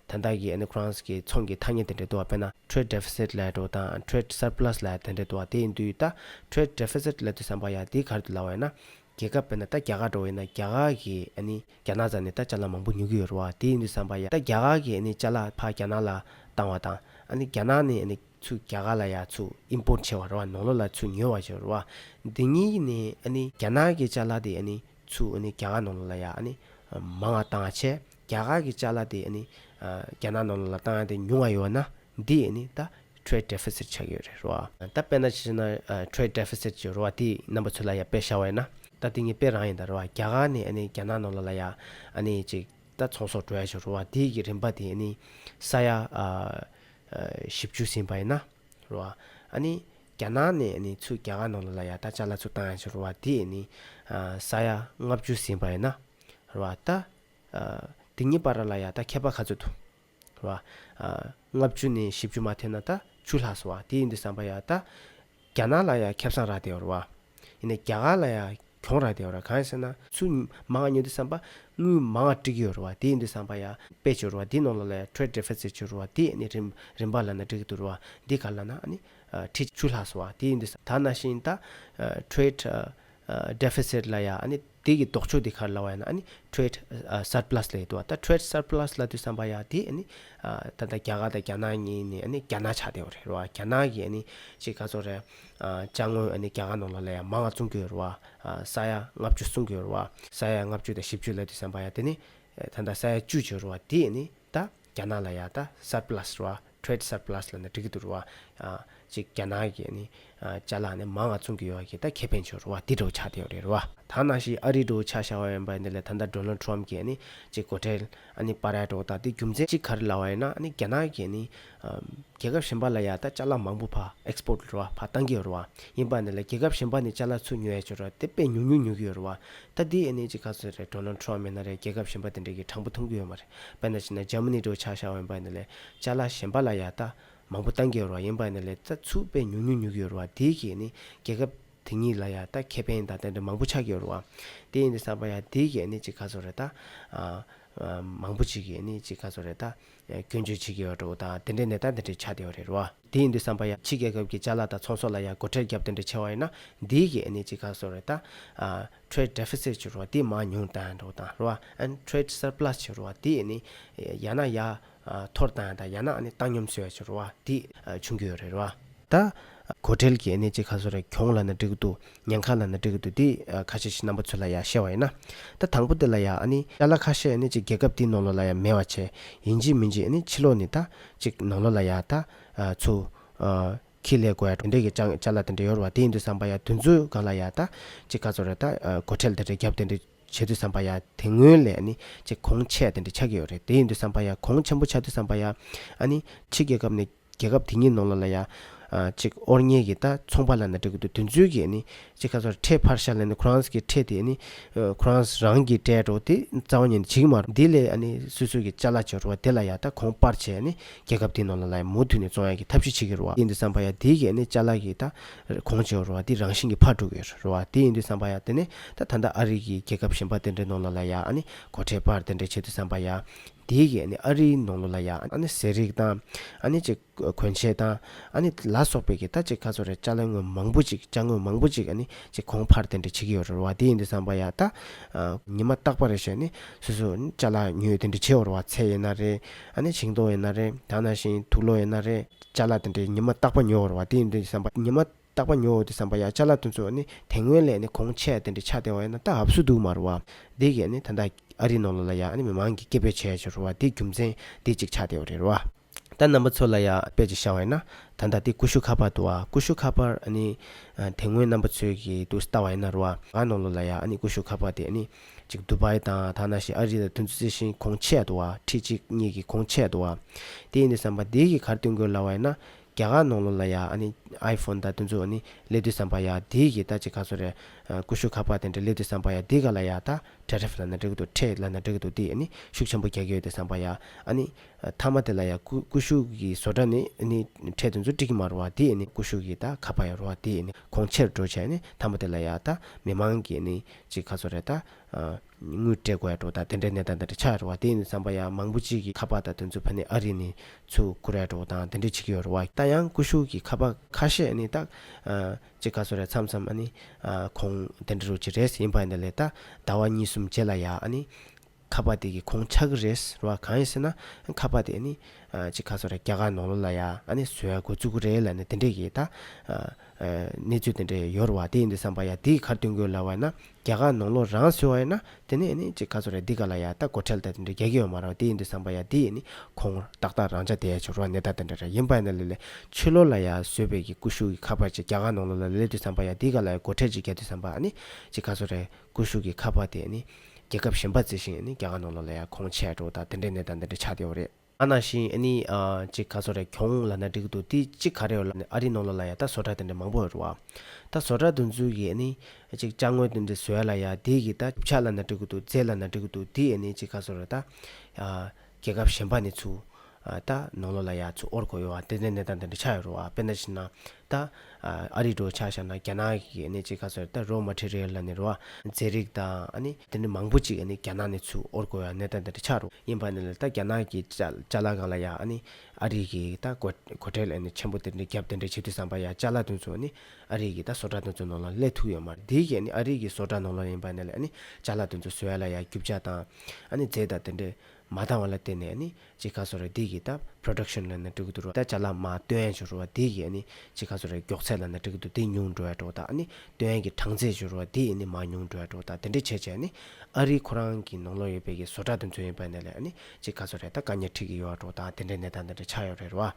དེ་དག་གིས་ཨེ་ནས་ཁོ་རངས་ཀྱི་ཚོང་གི་ཐ་སྙད་དེ་འདྲ་བསྡུ་བ་དཔེར་ན Trade Deficit ལའི་འགྲོ་བ་དང Trade Surplus ལའི་དེ་འདྲ་བསྡུ་བ་དེ་འདུས་ད Trade Deficit ལ་འདུས་བསམ་པ་ཡང་དེ་གར་འདུས་ལ་བས་ན། རྒྱལ་ཁབ་དཔེར་ན་ད་རྒྱ་གར་འགྲོ་བ་ཡིན་ན་རྒྱ་གར་གྱི་ཨེ་ནས་རྒྱ་ནག་ཙམ་ནས་ད་ལྕགས་ལ་མང་པོ་ཉོ་གི་ཡོད་ར་བ་དེ་འདུས་བསམ་པ་ཡང་ད་རྒྱ་གར་གྱི་ཨེ་ནས་ལྕགས་ལ་ཕ་རྒྱ་ནག་ལ་བཏང་བ་དང་ཨེ་ནས་རྒྱ་ནག་ནས་ཨེ་ནས། ཆུ་རྒྱ་གར་ལ་ཡང་ཆུ Import ཆེ་བ་རེད་བ་ནོར་ལོ་ལ་ཆུ་ཉོས་བ་ཞེས་རེད་བ། འདི་གཉིས་ཀྱི་ནི་ཨ་ནི་རྒྱ་ནག་གི་ལྕགས་ལ་དེ་ཨ་ནི་ཆུ་ཨ་ནི་རྒྱ་གར་ནོར་ལོ་ལ་ཡང་ཨ་ནི་མང་བ་བཏང་བ་ཆེ། རྒྱ་གར་གྱི་ལྕགས་ལ་དེ་ཨ་ནི་རྒྱ་ནག་ནོར་ལོ་ལ་བཏང་ཡང་དེ་ཉུང་བ་ཡོད་ན་འདི་ཨ་ནི་ད Trade Deficit ཆགས་ཀྱི་ཡོད་རེད་རེད་བ། ད་དཔེར་ན་ཇི་ཞེ་ན Trade Deficit ཅེས་རེད་བ་དེ་རྣམ་པ་ཚོས་ལ་ཡང་དཔེ་བཞག་བ་ཡིན་ན། ད་དེ་གཉིས་དཔེ་རང་ཡིན་ད་རེད་བ་རྒྱ་གར་ནི་ཨ་ནི་རྒྱ་ནག་ནོར་ལོ་ལ་ཡང་ཨ་ནི་ཅིག་ད་ཚོང་ཟོག་འགྲོ་ཡ་ཞེས་རེད་བ་དེ་ཀྱི་རིན་པ་དེ་ཨ་ནི་ས་ཡ། ཞིབ་འཇུག་ཟིན་པ་ཡིན་ན་རུ་བ། ཨ་ནི། རྒྱ་ནག་ནས་ཨ་ནི་ཆུ་རྒྱ་གར་ནང་ལ་ལ་ཡ་ད་ཅ་ལ་ཆུ་བཏང་ཡ་ཆུ་རུ་བ་དེ་ཨ་ནི། ས་ཡ་ལྔ་བཅུ་ཟིན་པ་ཡིན་ན་རུ་བ། ད། དེ་ཉིད་པ་ར་ལ་ཡ་ད་མཁས་པ་ཁ་ཚོད་དུ། རུ་བ། ལྔ་བཅུ་ནས་བཞི་བཅུ་མ་ཐོན་ན་ད་ཆུ་ལྷགས་སོ་བ་དེ་ཡིན་དུ་བསམ་པ་ཡ་ད། རྒྱ་ནག་ལ་ཡང་ཁེབས་སང་རག་དེ་འོར་བ། ཡིན་ནས་རྒྱ་གར་ལ་ཡང་གྱོང་རག་དེ་འོར་བ་གང་ཡིན་ཟེར་ན། ཚུར་མ་ང་ཉོ་དུས་བསམ་པ། དངུལ་མ་ང་སྤྲི་གི་འོར་བ་དེ་ཡིན་དུས་བསམ་པ་ཡ། པའི་ཆུ་འོར་བ་དེ་ནང་ལ་ལ་ཡང Trade Deficit ཆུ་འོར་བ་དེ་ནི་རིམ་རིམ་པར་ལ་ན་འགྲིག་གི་འདུག་ར་བ་འདི་ག་ལ་ན་ཨ་ནི། ཁྲི་ཆུ་ལྷགས་སོང་བ་དེ་ཡིན་དུས་ད་ན་ཤིང་ད། Trade། Deficit ལ་ཡང་ཨ་ནི། དེ་གི་ལྡོག་ཕྱོགས་དེ་ག་ལ་བ་ཡིན་ན་ཨ་ནི Trade Surplus ལ་ཡོད་དོ་ཨ་ད Trade Surplus ལ་དུས་བསམ་པ་ཡ་དེ་ཨ་ནི་ད་ལྟ་རྒྱ་གར་དང་རྒྱ་ནག་གཉིས་ནི་ཨ་ནི་རྒྱ་ནག་ཆགས་བསྡད་ཡོད་རེད་རེད་བ་རྒྱ་ནག་གི་ཨ་ནི་ཅིག་ག་ཚོ་རེད་བཅའ་དངོས་ཨ་ནི་རྒྱ་གར་ནང་ལ་ལ་ཡ་མང་ང་བཙོང་གི་ཡོད་རེད་བ་ས་ཡ་ལྔ་བཅུ་བསྲུང་གི་ཡོད་རེད་བ་ས་ཡ་ལྔ་བཅུ་དང་བཞི་བཅུ་ལ་དུས་བསམ་པ་ཡ་དེ་ནི་ད་ད་ས་ཡ་བཅུ་བྱས་རེད་བ་དེ་ཨ་ནི། ད་རྒྱ་ནག་ལ་ཡ་ད surplus རོ trade surplus ལ་ནི་འགྲིག་གི་འདུག་རོ་ཅིག་རྒྱ་ནག་གི་ནི་བྱ་ལ་ནི་མང་ང་ཚུང་གི་ཡོ་གི་ད་ཁེ་ཕན་ཆོ་རོ་བ་དི་འགྲོ་བ་ཆག་དེ་ཡོ་རེད་རོ་བ། ད་ནང་བཞིན་ཨ་རི་འགྲོ་བ་ཆག་ཤ་བ་ཡོན་པ་ཡིན་ད་ལེ་ད་ད Donald Trump གི་ནི་ཅིག་གོ་ཁྲེལ་ཨ་ནི་པ་ར་ཡ་འགྲོ་བ་ད་དི་རྒྱུ་མཚན་ཅིག་ག་རི་ལ་བ་ཡིན་ན་ཨ་ནི་རྒྱ་ནག་གི་ནི། རྒྱལ་ཁབ་གཞན་པ་ལ་ཡང་ད་ལྕགས་ལ་མང་པོ་ཕ Export རེད་བ་ཕ་བཏང་གི་ཡོད་རེད་བ་ཡིན་པ་ནི་ལ་རྒྱལ་ཁབ་གཞན་པ་ནས་ལྕགས་ལ་ཚུར་ཉོས་ཡས་ཆོད་རེད་དེ་དཔེ་ཉུང་ཉུང་ཉོས་གི་ཡོད་རེད་བ་ད་དེའི་ཨེ་ནས་ཅིག་ག་ཚོད་རེད Donald Trump མེད་ན་རེད་རྒྱལ་ཁབ་གཞན་པ་དེ་འདྲ་གི་དྲང་པོ་མཐོང་གི་ཡོད་མ་རེད་བས་ན་ཅིག་ན Germany འདྲ་བོ་ཆགས་ཤག་འོན་པ་ནི་ལ་ལྕགས་ལ་གཞན་པ་ལ་ཡང་ད་མང་པོ་བཏང་གི་ཡོད་རེད་བ་ཡིན་པ་ནི་ལ་ད་ཚུར་དཔེ་ཉུང་ཉུང་ཉོས་གི་ཡོད་རེད་བ་དེའི་གིས་ནི་རྒྱལ་ཁབ་དེ་གཉིས་ལ་ཡང་ད་ཁེ་ཕན་དང་དེ་འདྲ་མང་པོ་ཆགས་གི་ཡོད་རེད་བ་དེ་ཡིན་དུ་བསམ་པ་ཡང་དེའི་གིས་ཨེ་ནས་ཅིག་ག་ཚོད་རེད་ད་མང་པོ་ཅིག་གིས་ཨེ་ནས་ཅིག་ག་ཚོད་རེད་ད་སྐྱོན་བརྗོད་བྱེད་ཀྱི་ཡོད་འགྲོ་དང་དེ་འདྲའི་ནད་རྟགས་འདི་འདྲའི་ཆགས་བསྡད་ཡོད་རེད་རོ། དེ་ཡིན་དུས་བསམ་པ་ཡ། ཕྱི་རྒྱལ་ཁབ་ཀྱི་བཅའ་ལག་དང་ཚོང་ཟོག་ལ་ཡང་སྒོ་ཁྲལ་རྒྱབ་དེ་འདྲའི་ཆེ་བ་ཡིན་ན་འདིའི་གི་ཨ་ནི་ཅི་གང་བཟོ་རེད་ད། Trade Deficit ཆུ་རོ་དེ་མང་ཉུང་དང་འགྲོ་དང་རོ་ཨན Trade Surplus ཆུ་རོ་དེ་ཨ་ནི། ཡ་ན་ཡ། འཐོར་དང་ཡ་ན་ཨ་ནི་བཏང་སྙོམས་བཟོས་ཆུ་རོ་དེ་ཨ་ཆུང་གི་ཡོད་རེད་རོ། ད། གོ་ཁྲེལ་གྱི་གནས་ཅི་ག་སོ་རེ་གྱོང་ལ་ན་འགྲིག་གི་འདུག་ཉན་ཁ་ལ་ན་འགྲིག་གི་འདུག་དེ་ཁ་ཤས་ཤིག་རྣམ་པ་ཚོས་ལ་ཡང་ཤེས་བ་ཡིན་ན། ད་དང་པོ་དེ་ལ་ཡང་ཨ་ནི་ཡ་ལ་ཁ་ཤས་ཨ་ནི་ཅིག་རྒྱལ་ཁབ་དེའི་ནང་ལོགས་ལ་ཡང་མེད་བ་བྱས། ཡིན་གཅིག་མིན་གཅིག་ཨ་ནི་ཕྱི་ལོགས་ནས་ད། ཅིག་ནང་ལོགས་ལ་ཡང་ད། ཚུ། ཁྱི་ལས་གོ་ཡ་གྲོང་སྡེ་གི་སྤྱང་ལ་དེ་འདྲ་ཡོར་བ་དེ་ཡིན་འདུག་བསམ་པ་ཡང་དུས་ཚོད་གང་ལ་ཡང་ད། ཅིག་ག་ཚོ་རེ་ད། གོ་ཁྲེལ་དེ་འདྲ་རྒྱབ་དེ་འདྲ་བྱེད་དུས་བསམ་པ་ཡང་དེ་སྔོན་ལས་ཨ་ནི་ཅིག་གོང་ཆད་དེ་འདྲ་ཆགས་ཀྱི་ཡོར་རེད་དེ་ཡིན་འདུག་བསམ་པ་ཡང་གོང་ཆེན་པོ་ཆགས་དུས་བསམ་པ་ཡང། ཨ་ནི། ཕྱི་རྒྱལ་ཁབ་ནས་རྒྱལ་ཁབ་དེ་ཉིད་ནང་ལ་ལ་ཡ། གཅིག་ཨོར་ཉེ་གི་ད་ཚོང་པ་ལ་ན་དྲེག་དུ་དུས་མཚོན་གི་ནི། གཅིག་ཁ་སོར་ཁྲེ་ཕར་ཤ་ལ་ནི་ཁོ་རང་གི་ཁྲེ་དེ་ནི། ཁོ་རང་རང་གི་ཏྲེ་རོ་དེ་རྩ་བ་ཉིད་ནི་བྱིག་མ་རོ་དེ་ལས་ནི་སུ་སུ་གི་ཅ་ལ་ཅི་རོ་བ་དེ་ལ་ཡ་ད་གོང་པར་བྱས་ནི་རྒྱལ་ཁབ་དེ་ནང་ལ་ལ་ཡ་མུ་འཐུད་ནི་ཙོང་ཡ་གི་ཐབས་ཤིག་བྱིག་གི་རོ་བ་ཡིན་དུ་བསམ་པ་ཡ་དེ་གི་ནི་ཅ་ལ་གི་ད་གོང་བྱིག་རོ་བ་དེ་རང་བཞིན་གི་ཕར་དྲུག་གི་རོ་བ་དེ་ཡིན་དུ་བསམ་པ་ཡ་དེ་ནི་ད་ད་ད་ཨ་རིག་གི་རྒྱལ་ཁབ་གཞན་པ་དེ་འདྲའི་ནང་ལ་ལ་ཡ་ནི་གོ་ཁྲེ་ཕར་དེ་འདྲའི་བྱེད་དུ་བསམ་པ་ཡ། དེའི་གིས་ཨ་རིའི་ནང་ལོ་ལ་ཡ་ཨ་ནི་ཟས་རིགས་དང། ཨ་ནི་ཅིག་གོན་ཆས་དང། ཨ་ནི་ལ་སོགས་པའི་གིས་ད་ཅིག་ཁ་ཚོ་རེ་ལྕགས་ལ་དངོས་མང་པོ་ཅིག་ལྕགས་དངོས་མང་པོ་ཅིག་ཨ་ནི་ཅིག་གོང་འཕར་དེ་འདྲ་བྱེད་ཀྱི་ཡོད་རོལ་བ་དེ་ཡིན་དུ་བསམ་པ་ཡ་ད། ཉི་མ་རྟག་པ་རེ་ཞིག་ཨ་ནི་སོ་སོ་ཨ་ནི་ལྕགས་ལ་དངོས་དེ་འདྲ་བྱེད་རོལ་བ་ཚེ་ཡིན་ན་རེ། ཨ་ནི་བྱིངས་སྟོང་ཡིན་ན་རེ་ད་ན་བཞིན་དུག་ལོ་ཡིན་ན་རེ། ལྕགས་ལ་དེ་འདྲའི་ཉི་མ་རྟག་པ་ཉོ་རོལ་བ་དེ་ཡིན་དུ་བསམ་པ་ཉི་མ་རྟག་པ་ཉོ་འོ་དེ་བསམ་པ་ཡག་ཅག་ལབ་དོན་གཙོ་བོ་ནི་དེ་སྔོན་ལས་ནི་གོང་ཆད་དེ་འདྲའི་ཆགས་སྡེ་བ་ཡོད་ན་ད་ཧབ་སུ་འདུག་མ་རུ་བ། དེ་གས་ནི་ད་ལྟ་ཨ་རི་ནོར་ལོ་ལ་ཡག་ནི་མི་མང་གིས་སྐད་འབོད་བྱས་ཡོད་ཅེས་རུ་བ་དེ་རྒྱུ་མཚན་དེ་གཅིག་ཆགས་སྡེ་བ་རེད་རུ་བ། ད་རྣམ་པ་ཚོ་ལ་ཡག་དཔེ་གཅིག་བཤའ་བ་ཡིན་ན་ད་ལྟ་དེ་ཀུ་ཤུ་ཁ་པར་འདུག་ཨ་ཀུ་ཤུ་ཁ་པར་ཨ་ནི་དེ་སྔོན་རྣམ་པ་ཚོས་གི་འདུག་ལྟ་བ་ཡིན་ན་རུ་བ་ང་ནོར་ལོ་ལ་ཡག་ཨ་ནི་ཀུ་ཤུ་ཁ་པར་དེ་ཨ་ནི་གཅིག་དུ་བཱི་དང་ཐ་ན་ཤི་ཨ་རི་ལ་དུས་ཚོད་རྩི་ཤིང་གོང་ཆད་འདུག་ཨ་ཁྲི་གཅིག་གཉིས་གི་གོང་ཆད་འདུག་ཨ་དེ་ཡིན་དུ་བསམ་པ་དེ་གིས་གར་སྟོན་དགོས་ལ་བ་ཡིན་ན་རྒྱ་གར་ནང་ལོ་ལ་ཡ་ཨ་ནི་ཨའི་ཕོན་ད་དུ་འཛུགས་ཨ་ནི་སླེབས་དུས་བསམ་པ་ཡ་དེའི་གི་ད་ཅི་ག་སོ་རེ། ཀུ་ཤུ་ཁ་པར་དེ་འདྲ་སླེབས་དུས་བསམ་པ་ཡ་དེ་ག་ལ་ཡ་ད་ཁྲེ་རེ་ཕི་ལ་ན་འགྲིག་གི་འདུག་ཁྲེ་ལ་ན་འགྲིག་གི་འདུག་དེ་ཨ་ནི་ཤུགས་ཆེན་པོ་རྒྱག་གི་ཡོད་དེ་བསམ་པ་ཡ་ཨ་ནི། མཐའ་མ་དེ་ལ་ཡ་ཀུ་ཀུ་ཤུ་གི་བཟོ་གྲ་ནི་ཨ་ནི་ཁྲེ་དེ་ཚོ་འགྲིག་གི་མ་རུ་བ་དེ་ཨ་ནི་ཀུ་ཤུ་གི་ད་ཁ་པར་ཡ་རུ་བ་དེ་ཨ་ནི་ཁོང་ཕྱིར་འགྲོ་བྱས་ཨ་ནི་མཐའ་མ་དེ་ལ་ཡ་ད་མི་མང་གི་ཨ་ནི་ཅི་ག་སོ་རེ་ད། དངུལ་སྤྲད་དགོས་ཡག་འགྲོ་དང་དེ་འདྲའི་གནས་སྟངས་དེ་འདྲ་ཆགས་ཡོད་རེད་བ་དེ་ཡིན་བསམ་པ་ཡག་མང་པོ་ཅིག་གི་ཁ་པག་དང་དུ་ཚོད་ཕ་ནི་ཨ་རི་ནས་ཚུར་བསྐུར་ཡག་འགྲོ་དང་དེ་འདྲ་བྱེད་ཀྱི་ཡོད་རེད་བ། ད་ཡང་ཀུ་ཤུ་གི་ཁ་པག་ཁ་ཤས་ནི་ཏག། ཅིག་ག་ཚོད་རེད་མཚམས་མཚམས་ཨ་ནི། གོང་དེ་འདྲ་རུ་གྱི་རེད་ཡིན་པ་འདི་ལས་ད་ཟླ་བ་གཉིས་གསུམ་རྗེས་ལ་ཡ་ཨ་ནི། ཁ་པག་དེ་གི་གོང་ཆགས་ཀྱི་རེད་རེད་བ་གང་ཡིན་ཟེར་ན། ཁ་པག་དེ་ཨ་ནི། ཅིག་ག་ཚོད་རེད་རྒྱ་གར་ནང་ལོགས་ལ་ཡ་ཨ་ནི་བཟོས་ཡག་དགོས་བཙུགས་ཀྱི་རེད་ལ་ནི་དེ་འདྲས་ཀྱི་ད། གནས་ཚུལ་དེ་འདྲས་ཡོད་རེད་བ་དེ་ཡིན་དུ་བསམ་པ་ཡག་དེ་གི་ཁར་སྟོན་དགོས་ལ་བ་ན། རྒྱ་གར་ནང་ལོ་རང་སོའི་བ་ཡིན་ན་དེ་ནས་ནི་ཅིག་ག་ཚོ་རེད་འདི་ག་ལ་ཡ་ད་གོ་ཁྲེལ་ད་དེ་འདྲ་རྒྱ་གི་ཡོད་མ་རང་དེ་ཡིན་འདུག་བསམ་པ་ཡ་དེ་ཡིན་ནི་ཁོ་ངོ་ཏག་ཏག་རང་ཅག་དེ་ཡ་ཆོ་རོ་གནས་སྟངས་དེ་འདྲ་ར་ཡིན་པ་ཡིན་ན་ལེ་ལེ་ཆོས་ལོ་ལ་ཡ་བཟོད་པའི་གི་ཀུ་ཤུ་གི་ཁ་པར་ཅིག་རྒྱ་གར་ནང་ལོ་ལ་ལེ་ལེ་དུས་བསམ་པ་ཡ་འདི་ག་ལ་ཡ་གོ་ཁྲེལ་ཅིག་རྒྱ་དུས་བསམ་པ་ཨ་ནི་ཅིག་ག་ཚོ་རེད་ཀུ་ཤུ་གི་ཁ་པར་དེ་ནི་རྒྱལ་ཁབ་གཞན་པ་བརྩི་ཞིང་ནི་རྒྱ་གར་ནང་ལོ་ལ་ཡ་ཁོང་ཆད་འགྲོ་དང་དེ་འདྲའི་གནས་སྟངས་འདི་འདྲ་ཆགས་དེ་འོ་རེད། ཨ་ན་ཤིང་ཨ་ནི། ཅིག་ཁ་བཟོ་རེ་གྱོང་ལ་ན་འགྲིག་འདུག་དེ་ཅིག་ག་རེ་ཡོད་ལ་ནི་ཨ་རི་ནང་ལ་ལ་ཡ་ད་བཟོ་གྲ་དེ་འདྲ་མང་པོ་ཡོད་རེད་བ། ད་བཟོ་གྲ་འདུ་འཛུལ་གྱི་ཨ་ནི། ཅིག་ལྕགས་དངུལ་དེ་འདྲ་བཟོས་ལ་ཡ་དེ་གི་ད་རྒྱུ་ཆ་ལ་ན་འགྲིག་འདུག་རྫས་ལ་ན་འགྲིག་འདུག་དེ་ཨ་ནི་ཅིག་ཁ་བཟོ་རེ་ད། རྒྱལ་ཁབ་གཞན་པ་ནི་ཚུ། ད་ནང་ལོ་ལ་ཡ་ཚུ་ཨོར་གོ་ཡོད་བ་དེ་འདྲ་གནས་སྟངས་དེ་འདྲ་ཆགས་ཡོད་རེད་བ་དཔེར་ན་ཕྱིན་ན། ད། ཨ་རིའི་འགྲོ་འཆག་ཤར་ན་རྒྱ་ནག་གི་གནས་གཅིག་ཁ་སོད་ད་རོ་མ་ཁྲི་རེལ་ལ་ནི་རོ་ཨ། ཛེ་རིག་ད། ཨ་ནི་དེ་ནི་མང་པོ་ཅིག་ཨ་ནི་རྒྱ་ནག་ནི་ཚུ་ཨོར་གོ་ཡ་ནེ་ད་ད་ཏི་ཆག་རོ་ཡིན་པ་ནི་ལ་ད་རྒྱ་ནག་གི་ཅ་ཅ་ལ་གང་ལ་ཡ་ཨ་ནི་ཨ་རིག་གི་ད་གོ་གོ་ཁྲེལ་ཨ་ནི་ཆེན་པོ་དེ་འདྲི་རྒྱབ་དེ་འདྲི་བྱེད་དུས་བསམ་པ་ཡ་ཅ་ལ་དུ་ཚུ་ཨ་ནི་ཨ་རིག་གི་ད་བཟོ་གྲ་དུ་ཚུ་ནོ་ལ་ལས་ཐུག་ཡོད་མ་རེད་དེའི་གི་ཨ་ནི་ཨ་རིག་གི་བཟོ་གྲ་ནོ་ལ་ཡིན་པ་ནི་ལ་ཨ་ནི་ཅ་ལ་དུ་ཚུ་བཟོ་ཡ་ལ་ཡ་རྒྱུབ་བྱ་ད་ཨ་ནི་ཛེ་ད་དེ་འདྲི་མ་འདང་བ་ལ་བརྟེན་ནས་ནི་ཅི་ག་སོ་རའི་སྡིག་གིས་བཏབ Production ལ་ནི་དྲུག་ཏུ་རོ་ད་ཅ་ལ་མ་སྟོན་ཅུ་རུ་བ་སྡིག་གིས་ནི་ཅི་ག་སོ་རའི་མགྱོགས་ཚད་ལ་ནི་དྲུག་ཏུ་དེ་ཉུང་འགྲོ་བས་གྲོ་ད་ནི་སྟོན་གྱི་གྲངས་ཚད་ཅུ་རུ་བ་སྡིག་ནི་མ་ཉུང་འགྲོ་བས་གྲོ་ད་དེ་འདྲའི་བྱེད་བྱས་ནི་ཨ་རིའི་ཁོ་རང་གི་ནོང་ལོག་ཡོད་པའི་གི་བཟོ་གྲ་དུ་འཛུལ་ཡོད་པ་ནས་ལས་ནི་ཅི་ག་སོ་རའི་ད་ག་ཉེར་ཁྲིག་གི་ཡོ་བ་གྲོ་ད་དེ་འདྲའི་ནས་ད་འདི་འདྲ་ཆགས་ཡོ་རེ་རུ་བ།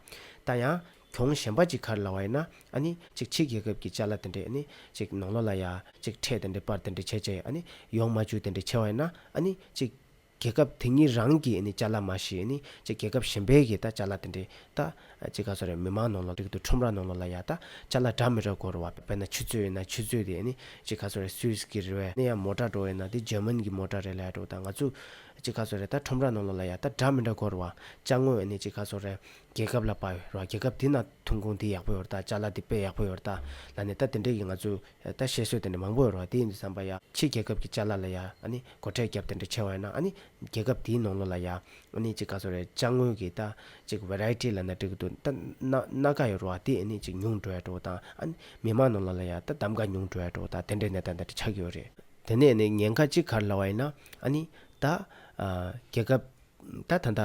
ད་ཡང་གྱོང་གཞན་པ་ཅིག་གར་ལ་བ་ཡིན་ན་ཨ་ནི་ཅིག་ཕྱི་རྒྱལ་ཁབ་གི་ཅ་ལ་དེ་འདྲས་ནི་ཅིག་ནོང་ལོག་ལ་ཡ་ཅིག་ཕྲད་དེ་འདྲས་པར་དེ་འདྲས་བྱེད་བྱས་ཨ་ནི་ཡོང་མ་ཅུ་དེ་འདྲས་ཆེ་བ་ཡིན་ན་ཨ་ནི་ཅིག། རྒྱལ་ཁབ་དེ་གཉིས་རང་གི་ནི་བཅའ་ལ་མ་ཞིག་ནི་ཅེ་རྒྱལ་ཁབ་གཞན་པའི་གི་ད་བཅའ་ལ་དེ་འདྲའི་ད། ཅེ་ག་ཚོ་རེ་མི་མང་ནང་ལ་ཏིག་ཏུ་ཁྲོམ་ར་ནང་ལ་ལ་ཡ་ད་བཅའ་ལ་དྲ་མི་དྲ་གོ་རུ་བ་པེ་ན་ཆུ་ཚོད་ཡིན་ན་ཆུ་ཚོད་དེ་ནི་ཅེ་ག་ཚོ་རེ་སུས་ཀི་རི་བས་ནི་ཡ་མོ་དྲ་འགྲོ་ཡིན་ན་དེ་ཇར་མན་གི་མོ་དྲ་རེ་ལ་ཡ་འགྲོ་ད་ང་ཚོས་ཅེ་ག་ཚོ་རེ་ད་ཁྲོམ་ར་ནང་ལ་ལ་ཡ་ད་དྲ་མི་དྲ་གོ་རུ་བ་བཅའ་དངོས་ནི་ཅེ་ག་ཚོ་རེ་རྒྱལ་ཁབ་ལ་པ་ཡོ་རུ་བ་རྒྱལ་ཁབ་དེ་ན་ཐོན་ཁུངས་དེ་ཡག་པོ་ཡོ་རུ་ད་བཅའ་ལ་དེ་པེ་ཡག་པོ་ཡོ་རུ་ད་ལ་ནི་ད་དེ་འདྲའི་གི་ང་ཚོས། ད་བཤད་སྲོལ་དེ་འདྲ་མང་པོ་ཡོད་རོགས་དེའི་འདྲ་བསམ་པ་ཡ། ཕྱི་རྒྱལ་ཁབ་ཀྱི་བཅའ་སླ་ལ་ཡ། སྒོ་ཁྲལ་རྒྱབ་དེ་འདྲ་ཆེ་བ་ཡོད་ན། རྒྱལ་ཁབ་དེའི་ནང་ལོག་ལ་ཡ། གཅིག་ག་ཚོད་རེད་བཅའ་དངུལ་གྱི་ད། གཅིག variety ལ་ན་འགྲིག་གི་འདུག་ད། སྣ་ཁ་ཡོད་རོགས་དེ་གཅིག་ཉུང་བྲོ་ཡ་གྲོགས་དང། མི་དམངས་ནང་ལོག་ལ་ཡ་ད་གདམ་ག་ཉུང་བྲོ་ཡ་གྲོགས་དང་དེ་འདྲའི་ནད་ད་འདྲ་ཆགས་ཀྱི་ཡོད་རེད། དེ་ནས་ནི་ཉེན་ཁ་གཅིག་གར་སླ་བ་ཡིན་ན། ད། རྒྱལ་ཁབ། ད་ད་ད་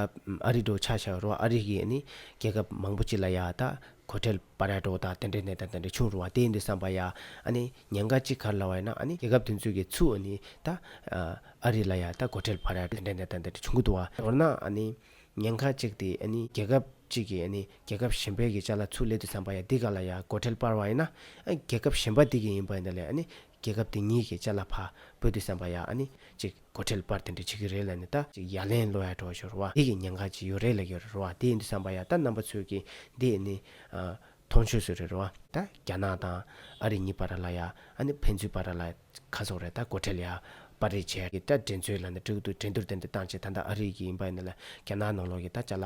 ཨ་རི་འགྲོ་ཆ་ཆག་རོགས་ཨ་རི་གིས་ནི་རྒྱལ་ཁབ་མང་པོ་གཅིག་ལ་ཡ་ད་གོ་ཁྲེལ་པ་ར་འགྲོ་དང་དེ་འདྲའི་ནད་དང་དེ་འདྲའི་ཆུང་རུང་བ་དེ་ཡིན་དུ་བསམ་པ་ཡ་ཨ་ནི་ཉེན་ཁ་གཅིག་གར་ལ་བ་ཡ་ན་ཨ་ནི་རྒྱལ་ཁབ་དེ་ཚོས་གི་ཚུ་ཨ་ནི་ད་ཨ་རི་ལ་ཡ་ད་གོ་ཁྲེལ་པ་ར་དེ་འདྲའི་ནད་དང་དེ་འདྲའི་ཆུང་གི་འདུ་བ་མདོར་ན་ཨ་ནི་ཉེན་ཁ་གཅིག་དེ་ཨ་ནི་རྒྱལ་ཁབ་གཅིག་གི་ཨ་ནི་རྒྱལ་ཁབ་གཞན་པའི་གི་ཅག་ལ་ཚུ་ལེ་དུ་བསམ་པ་ཡ་འདི་ག་ལ་ཡ་གོ་ཁྲེལ་པར་བ་ཡ་ན་ཨ་རྒྱལ་ཁབ་གཞན་པ་དེ་གི་ཡིན་པ་ཡ་ད་ལེ་ཨ་ནི་རྒྱལ་ཁབ་དེ་གཉིས་ཀྱི་ལྕེ་ལ་བག་བོད་དུ་སེམས་པ་ཡག་ཨ་ནི་ཅིག་གོ་ཁྲེལ་པར་དེ་འདྲ་བྱེད་ཀྱི་རེད་ལ་ནི་ད་ཅིག་ཡ་ལན་གློ་ཡ་གྲོགས་ཞོར་བ་འདི་གི་ཉེན་ཁ་ཅིག་ཡོད་རེད་ལ་ཡོད་རེད་རོ་བ་དེ་འདུག་བསམ་པ་ཡག་ད་རྣམ་པ་ཚོས་ཀྱི་འདི་ནི་མཐོང་ཆོས་སུ་རེད་རོ་བ། ད་རྒྱ་ནག་དང་ཨ་རི་གཉིས་པ་ར་ལ་ཡ་ཨ་ནི་ཕན་ཚུན་པ་ར་ལ་ཁ་བཟོ་རེད་ད་གོ་ཁྲེལ་ཡག་པར་རེད་བྱས་ཀྱི་ད་འགྲན་རྩོད་ལ་ནི་འགྲིག་འདུག་འགྲན་བསྡུར་དེ་འདྲ་བཏང་བྱས་ད་ད་ཨ་རི་གི་ཡིན་པ་ནི་ལ་རྒྱ་ནག་ནང་ལོག་གི་ད་ལྕ་ལ་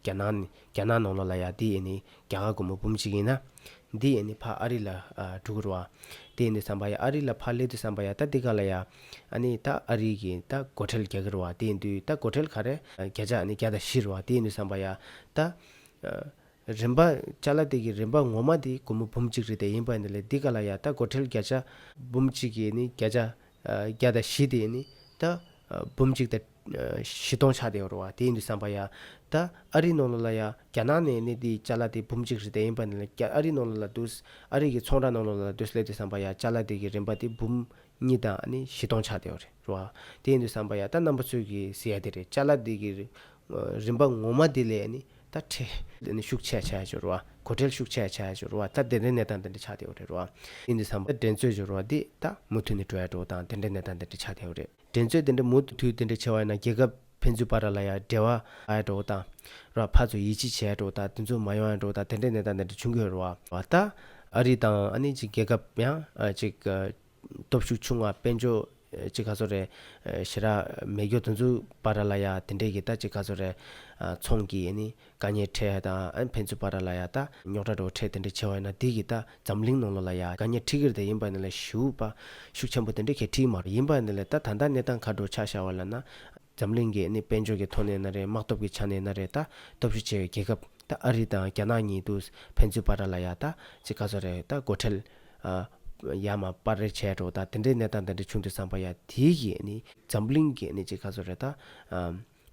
རྒྱ་ནག་ནི་རྒྱ་ནག་ནང་ལོགས་ལ་ཡ་འདི་ཡེ་ནི་རྒྱ་གར་སྒོར་མོ་འབུམ་གཅིག་ཡིན་ན། འདི་ཡེ་ནི་ཕ་ཨ་རི་ལ་དྲུག་རུ་ཨ། དེ་ཡེ་འདི་བསམ་པ་ཡ་ཨ་རི་ལ་ཕ་སླེ་དུ་བསམ་པ་ཡ་ད་འདི་ག་ལ་ཡ། ཨ་ནི་ད་ཨ་རི་གི་ད་སྒོར་ཁྲེལ་རྒྱ་གི་རུ་ཨ་དེ་ཡེ་འདུས་ད་སྒོར་ཁྲེལ་ག་རེ། བརྒྱ་ཆ་ཨ་ནི་བརྒྱ་དང་བཞི་རུ་ཨ་དེ་ཡེ་འདུས་བསམ་པ་ཡ་ད། རིན་པ་ཅཱ་ལ་ཏི་གི་རིན་པ་ངོ་མ་དེ་སྒོར་མོ་འབུམ་གཅིག་རེད་དེ་ཡེ་འབའ་འདི་ལས་འདི་ག་ལ་ཡ་ད་སྒོར་ཁྲེལ་བརྒྱ་ཆ། འབུམ་གཅིག་ཡེ་ནི་བརྒྱ་ཆ་བརྒྱ་དང་བཞི་དེ་ཡེ་ནི་ད། འབུམ་གཅིག་དང། བཞི་སྟོང་ཆ་དེའོ་རུ་བ་དེ་ཡིན་དུ་བསམ་པ་ཡ། ད་ཨ་རི་ནོ་ལོ་ལ་ཡ་རྒྱ་ནག་ནས་ནི་དེའི་ཅ་ལ་དེ་འབུམ་གཅིག་རི་དེ་ཡིན་པ་ནི་ལ་རྒྱ་ཨ་རི་ནོ་ལོ་ལ་འདུས་ཨ་རི་གི་ཚོང་ར་ནོ་ལོ་ལ་འདུས་སླད་དུ་བསམ་པ་ཡ་ཅ་ལ་དེ་གི་རིམ་པ་དེ་འབུམ་གཉིས་དང་ཨ་ནི་བཞི་སྟོང་ཆ་དེའོ་རུ་བ་དེ་ཡིན་དུ་བསམ་པ་ཡ་ད་རྣམ་པ་ཚུལ་གི་ཟི་ཡ་དེ་རེད་ཅ་ལ་དེ་གི་རིམ་པ་ངོ་མ་དེ་ལས་ཨ་ནི་ད་ཁྲེ། དེ་ནི་ཤུགས་ཆེ་ཡ་ཆ་ཡ་ཅོ་རུ་བ་གོ་ཁྲེལ་ཤུགས་ཆེ་ཡ་ཆ་ཡ་ཅོ་རུ་བ་ད་དེ་འདྲའི་ནད་དང་དེ་འདྲའི་ཆ་དེའོ་རུ་བ་དེ་ཡིན་དུ་བསམ་པ་ཡ་འགྲན་རྩོད་ཅོ་རུ་བ་དེ་ད་མུ་མཐུད་ནི་འགྲོ་ཡ་འགྲོ་བ་དང་དེ་འདྲའི་ནད་དང་དེ་འདྲའི་ཆ་དེའོ་རེད། འགྲན་རྩོད་དེ་འདྲ་མུ་མཐུད་དེ་འདྲ་བྱས་བ་ན་རྒྱལ་ཁབ་ཕན་ཚུན་བར་ལ་ཡ་འབྲེལ་བ་ཡ་འགྲོ་དང། ར་ཕ་ཚོ་ཡིད་ཆེས་བྱས་འགྲོ་དང་དེ་ཚོ་མ་ཡོང་ཡ་འགྲོ་དང་དེ་འདྲའི་གནས་སྟངས་དེ་འདྲ་བྱུང་གི་རོ། བ་ད། ཨ་རི་དང་ཨ་ནི་ཅིག་རྒྱལ་ཁབ་ཡང་ཅིག། སྟོབས་ཤུགས་ཆུང་བ་དཔལ་འབྱོར་ཅིག་ག་ཚོ་རེད། ཞེ་ར་མེད་རྒྱོ་དེ་ཚོའི་བར་ལ་ཡ་དེ་འདྲས་ཀྱི་ད་ཅིག་ག་ཚོ་རེད། ཚོང་གྱི་ཨ་ནི་བཀའ་ཉན་ཁྲེ་ཡ་དང་ཕན་ཚུན་བར་ར་ལ་ཡ་ད་རྙོག་དྲ་བྲོ་ཁྲེ་དེ་འདྲ་ཆེ་བ་ཡིན་ན་དེ་གི་ད་འཛམ་གླིང་ནང་ལོ་ལ་ཡ་བཀའ་ཉན་ཁྲི་གིར་དེ་ཡིན་པ་ནི་ལ་ཞུ་བ་ཤུགས་ཆེན་པོ་དེ་འདྲ་གལ་ཁྲི་མ་ཡིན་པ་ནི་ལ་ད་ད་ནི་ད་མཁའ་འགྲོ་ཆ་ཤ་བ་ལ་ན་འཛམ་གླིང་གི་ནི་དཔལ་འབྱོར་གི་ཐོག་ནས་ན་རེ་དམག་སྟོབས་གི་ཆ་ནས་ན་རེ་ད་སྟོབས་ཤུགས་ཆེ་བའི་རྒྱལ་ཁབ་ད་ཨ་རི་དང་རྒྱ་ནག་གཉིས་དུས་ཕན་ཚུན་བར་ར་ལ་ཡ་ད་ཅི་ག་ཚོ་རེ་ད་སྒོ་ཁྲལ་ཨ་ཡ་མ་པར་རེ་བྱས་འགྲོ་ད་དེ་འདྲའི་ནི་ད་འདི་འདྲའི་ཆུང་དུས་སངས་པ་ཡ་དེ་གི་ནི་འཛམ་གླིང་གི་ནི་ཅི་ག་ཚོ་རེ་ད།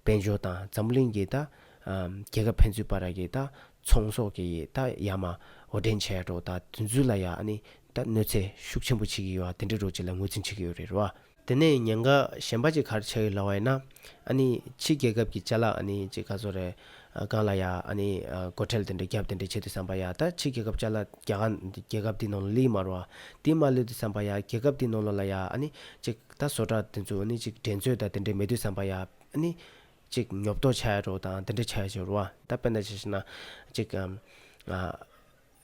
དཔལ་འབྱོར་དང་འཛམ་བུ་གླིང་གི་ད་རྒྱལ་ཁབ་ཕན་ཚུན་བར་ར་གི་ད་ཚོང་ཟོག་གི་ད་ཡ་མ་འོ་འདྲེན་བྱས་འགྲོ་ད་དུས་ཚུལ་ལ་ཡ་ནི་ད་གནོད་འཚེ་ཤུགས་ཆེན་པོ་བྱེད་གི་ཡོ་ཨ་དེ་འདྲ་རོ་ཅི་ལ་ངོས་འཛིན་བྱེད་གི་ཡོ་རེད་རོ་ཨ། དེ་ནས་ཉེན་ཁ་གཞན་པ་ཅིག་གར་ཆགས་ཡོ་ལ་བ་ཡ་ན་ཨ་ནི་ཕྱི་རྒྱལ་ཁབ་གི་བཅའ་ལག་ཨ་ནི་ཅིག་ག་ཚོ་རེ་གང་ལ་ཡ་ཨ་ནི་སྒོ་ཁྲལ་དེ་འདྲ་རྒྱབ་དེ་འདྲ་བྱེད་དུ་བསམ་པ་ཡ་ད་ཕྱི་རྒྱལ་ཁབ་བཅའ་ལག་རྒྱ་གར་རྒྱལ་ཁབ་དེ་ནང་ལ་ལི་མ་རོ་ཨ་དེ་མ་ལུས་དུ་བསམ་པ་ཡ་རྒྱལ་ཁབ་དེ་ནང་ལོ་ལ་ཡ་ཨ་ནི་ཅིག། ད་བཟོ་གྲྭ་དེ་ཚོ་ནི་ཅིག་འགྲན་རྩོད་དང་དེ་འདྲའི་མེད་དུས་བསམ་པ་ཡ། ནི། ཅིག་ཉོབ་ཏོག་བྱ་ཡ་འགྲོ་དང་དེ་འདྲ་བྱ་ཡ་འགྱུར་བ། ད་དཔེར་ན་ཇི་ཞེ་ན། ཅིག།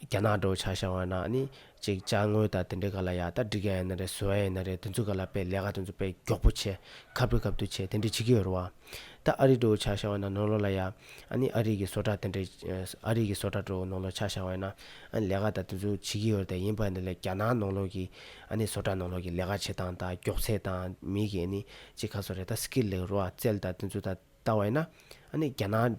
རྒྱ་ནག་འགྲོ་བྱ་བྱ་བ་ན་ནི། ཅིག་བཅའ་དངོས་དང་དེ་འདྲའི་ག་ལ་ཡ་ད་འགྲིག་ཡ་ཡིན་ན་རེད་བཟོ་ཡ་ཡིན་ན་རེད་དེ་ཚོ་ག་ལ་དཔེ་ལས་ཀ་དེ་ཚོ་དཔེ་མགྱོགས་པོ་བྱེད། ཁ་བོད་སྐབས་དུ་བྱེད་དེ་འདྲ་བྱེད་ཀྱི་ཡོད་རེད་བ། ད་ཨ་རིག་དྲོ་བོ་ཆགས་བཞག་ན་ནོར་ལོ་ལ་ཡ། ཨ་ནི་ཨ་རིག་གི་སོ་ཏྲ་དེ་འདྲས། ཨ་རིག་གི་སོ་ཏྲ་དྲོ་བོ་ནོར་ལོ་ཆགས་བཞག་ན། ཨ་ནི་ལས་ཀ་ད་དུས་ཚོད་བྱེད་ཀྱི་ཡོད་རེད་ཡིན་པ་འདི་ལས་རྒྱ་ནག་ནོར་ལོ་གིས། ཨ་ནི་སོ་ཏྲ་ནོར་ལོ་གིས་ལས་ཀ་བྱེད་སྟངས་དང་མགྱོགས་ཚད་དང་མིག་གིས་ཨ་ནི་ཅི་ག་སོ་རེད་ད་ཟིག་གི་ལེགས་རོ་ཨ་རྩལ་ད་དུས་ཚོད་ད་ལྟ་བ་ཡིན་ན། ཨ་ནི་རྒྱ་ནག།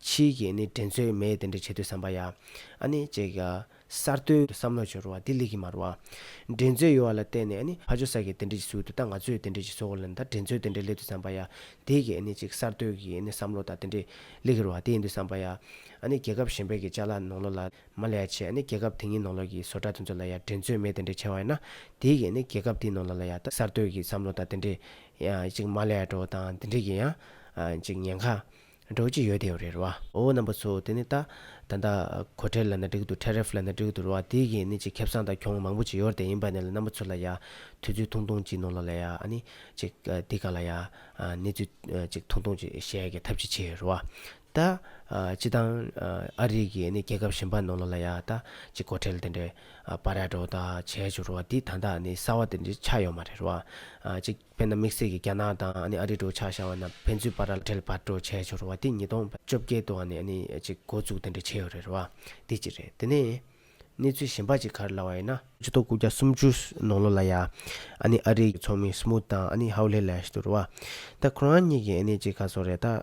ཕྱིའི་རྐྱེན་ནི་དྲན་ཚོད་མེད་དེ་འདྲ་བྱེད་དུས་བསམ་པ་ཡ། ཨ་ནི། ཅེས་གསར་གཏོད་དུ་བསམ་བློ་འབྱོར་བ་འདི་ལས་ཀྱི་མ་རུ་བ། འདྲེན་ཚོད་ཡོད་བ་ལ་བརྟེན་ནས་ཨ་ནི་ཕ་ཇོ་སར་གྱིས་དེ་འདྲ་ཅིག་བཟོས་འདུག་ད་ང་ཚོས་དེ་འདྲ་ཅིག་བཟོ་དགོས་ལ་ནི་ད་དྲན་ཚོད་དེ་འདྲ་སླེབས་དུས་བསམ་པ་ཡ། དེས་ཀྱི་ཨ་ནི། ཅེས་གསར་གཏོད་ཀྱི་ཨ་ནི་བསམ་བློ་ད་དེ་འདྲ་སླེབས་ཀྱི་རུ་བ་དེ་ཡིན་དུས་བསམ་པ་ཡ། ཨ་ནི། རྒྱལ་ཁབ་གཞན་པའི་གི་ལྕགས་ལ་ནོག་ལོག་ལ། མ་ལས་ཡ་ཆེ་ཨ་ནི། རྒྱལ་ཁབ་དེ་གཉིས་ནོག་ལོག་གི་བཟོ་གྲྭ་དེ་ཚོ་ལ་ཡ་དྲན་ཚོད་མེད་དེ་འདྲ་བྱས་བ་ཡིན་ན། དེས་ཀྱི་ཨ་ནི། རྒྱལ་ཁབ་དེའི་ནོག་ལོག་ལ་ཡ། གསར་གཏོད་ཀྱི་བསམ་བློ་ད་དེ་འདྲ། ཅིག་མ་ལས་ཡ་འགྲོ་བ་དང་དེ་འདྲ་གྱི་ཡ། ཅིག་ཉེན་ཁ། འགྲོ་ཅི་ཡོད་དེའོ་རེད་བ། འོ་རྣམ་པ་ཚོ་དེ་ནི་ད། ད་ལྟ། གོ་ཁྲལ་ལ་ན་འགྲིག་འདུག Tariff ལ་ན་འགྲིག་འདུག་ར་བ་དེ་གིས་ནི་ཅིག་ཁེབས་སང་དང་གྱོང་མང་པོ་ཅིག་ཡོར་དེ་ཡིན་པ་ནས་ལ་རྣམ་པ་ཚོ་ལ་ཡ། ཐུ་ཚོད་ཐུང་ཐུང་ཅིག་ནོ་ལ་ལ་ཡ་ཨ་ནི། ཅིག། དེ་ག་ལ་ཡ། ནི་ཚོད། ཅིག་ཐུང་ཐུང་ཅིག་བཤད་ཀྱི་ཐབས་ཅིག་བྱེད་ར་བ། ད། ཅི་དང། ཨ་རིག་གིས་ནི་རྒྱལ་ཁབ་གཞན་པ་ནོ་ལ་ལ་ཡ་ད། ཅིག་གོ་ཁྲལ་དེ་འདྲའི། པ་ར་འགྲོ་ད་བྱས་བྱུ་ར་བ་དེ་ད་ད་ནི་གསར་བ་དེ་འདྲའི་ཆགས་ཡོ་མ་རེད་ར་བ། ཅིག། བོད་ནང་དམིགས་བསལ་གྱིས་རྒྱ་ནག་དང་ཨ་རིའི་འགྲོ་འཆག་བྱ་བ་རྣམས་ཕན་ཚུན་དཔར་ར་བྲལ་བར་འགྲོ་བྱས་ཆོག་རེད་བ་དེ་ཉིས་སྟོང་བཅོ་བརྒྱད་དུ་ཨ་ཅིག་འགོ་བཙུགས་དེ་འདྲ་བྱས་ཡོད་རེད་བ། དེ་གཅིག་རེད་དེ་ནས། གནས་ཚུལ་གཞན་པ་ཅིག་ག་རེ་ལ་བ་ཡིན་ན། སྤྱི་ལྟོ་སྐུ་བརྒྱ་སུམ་ཅུ་ནང་ལོ་ལ་ཡ། ཨ་ནི་ཨ་རིའི་ཚོགས་མི་སི་མུ་ཐ་དང་ཨ་ནི་ཧའོ་ལྷེ་ལ་ཤི་དུ་རུ་བ། ད་ཁོ་རང་གཉིས་ཀྱིས་ཨ་ནི་ཅིག་ག་ཚོགས་རེད་ད།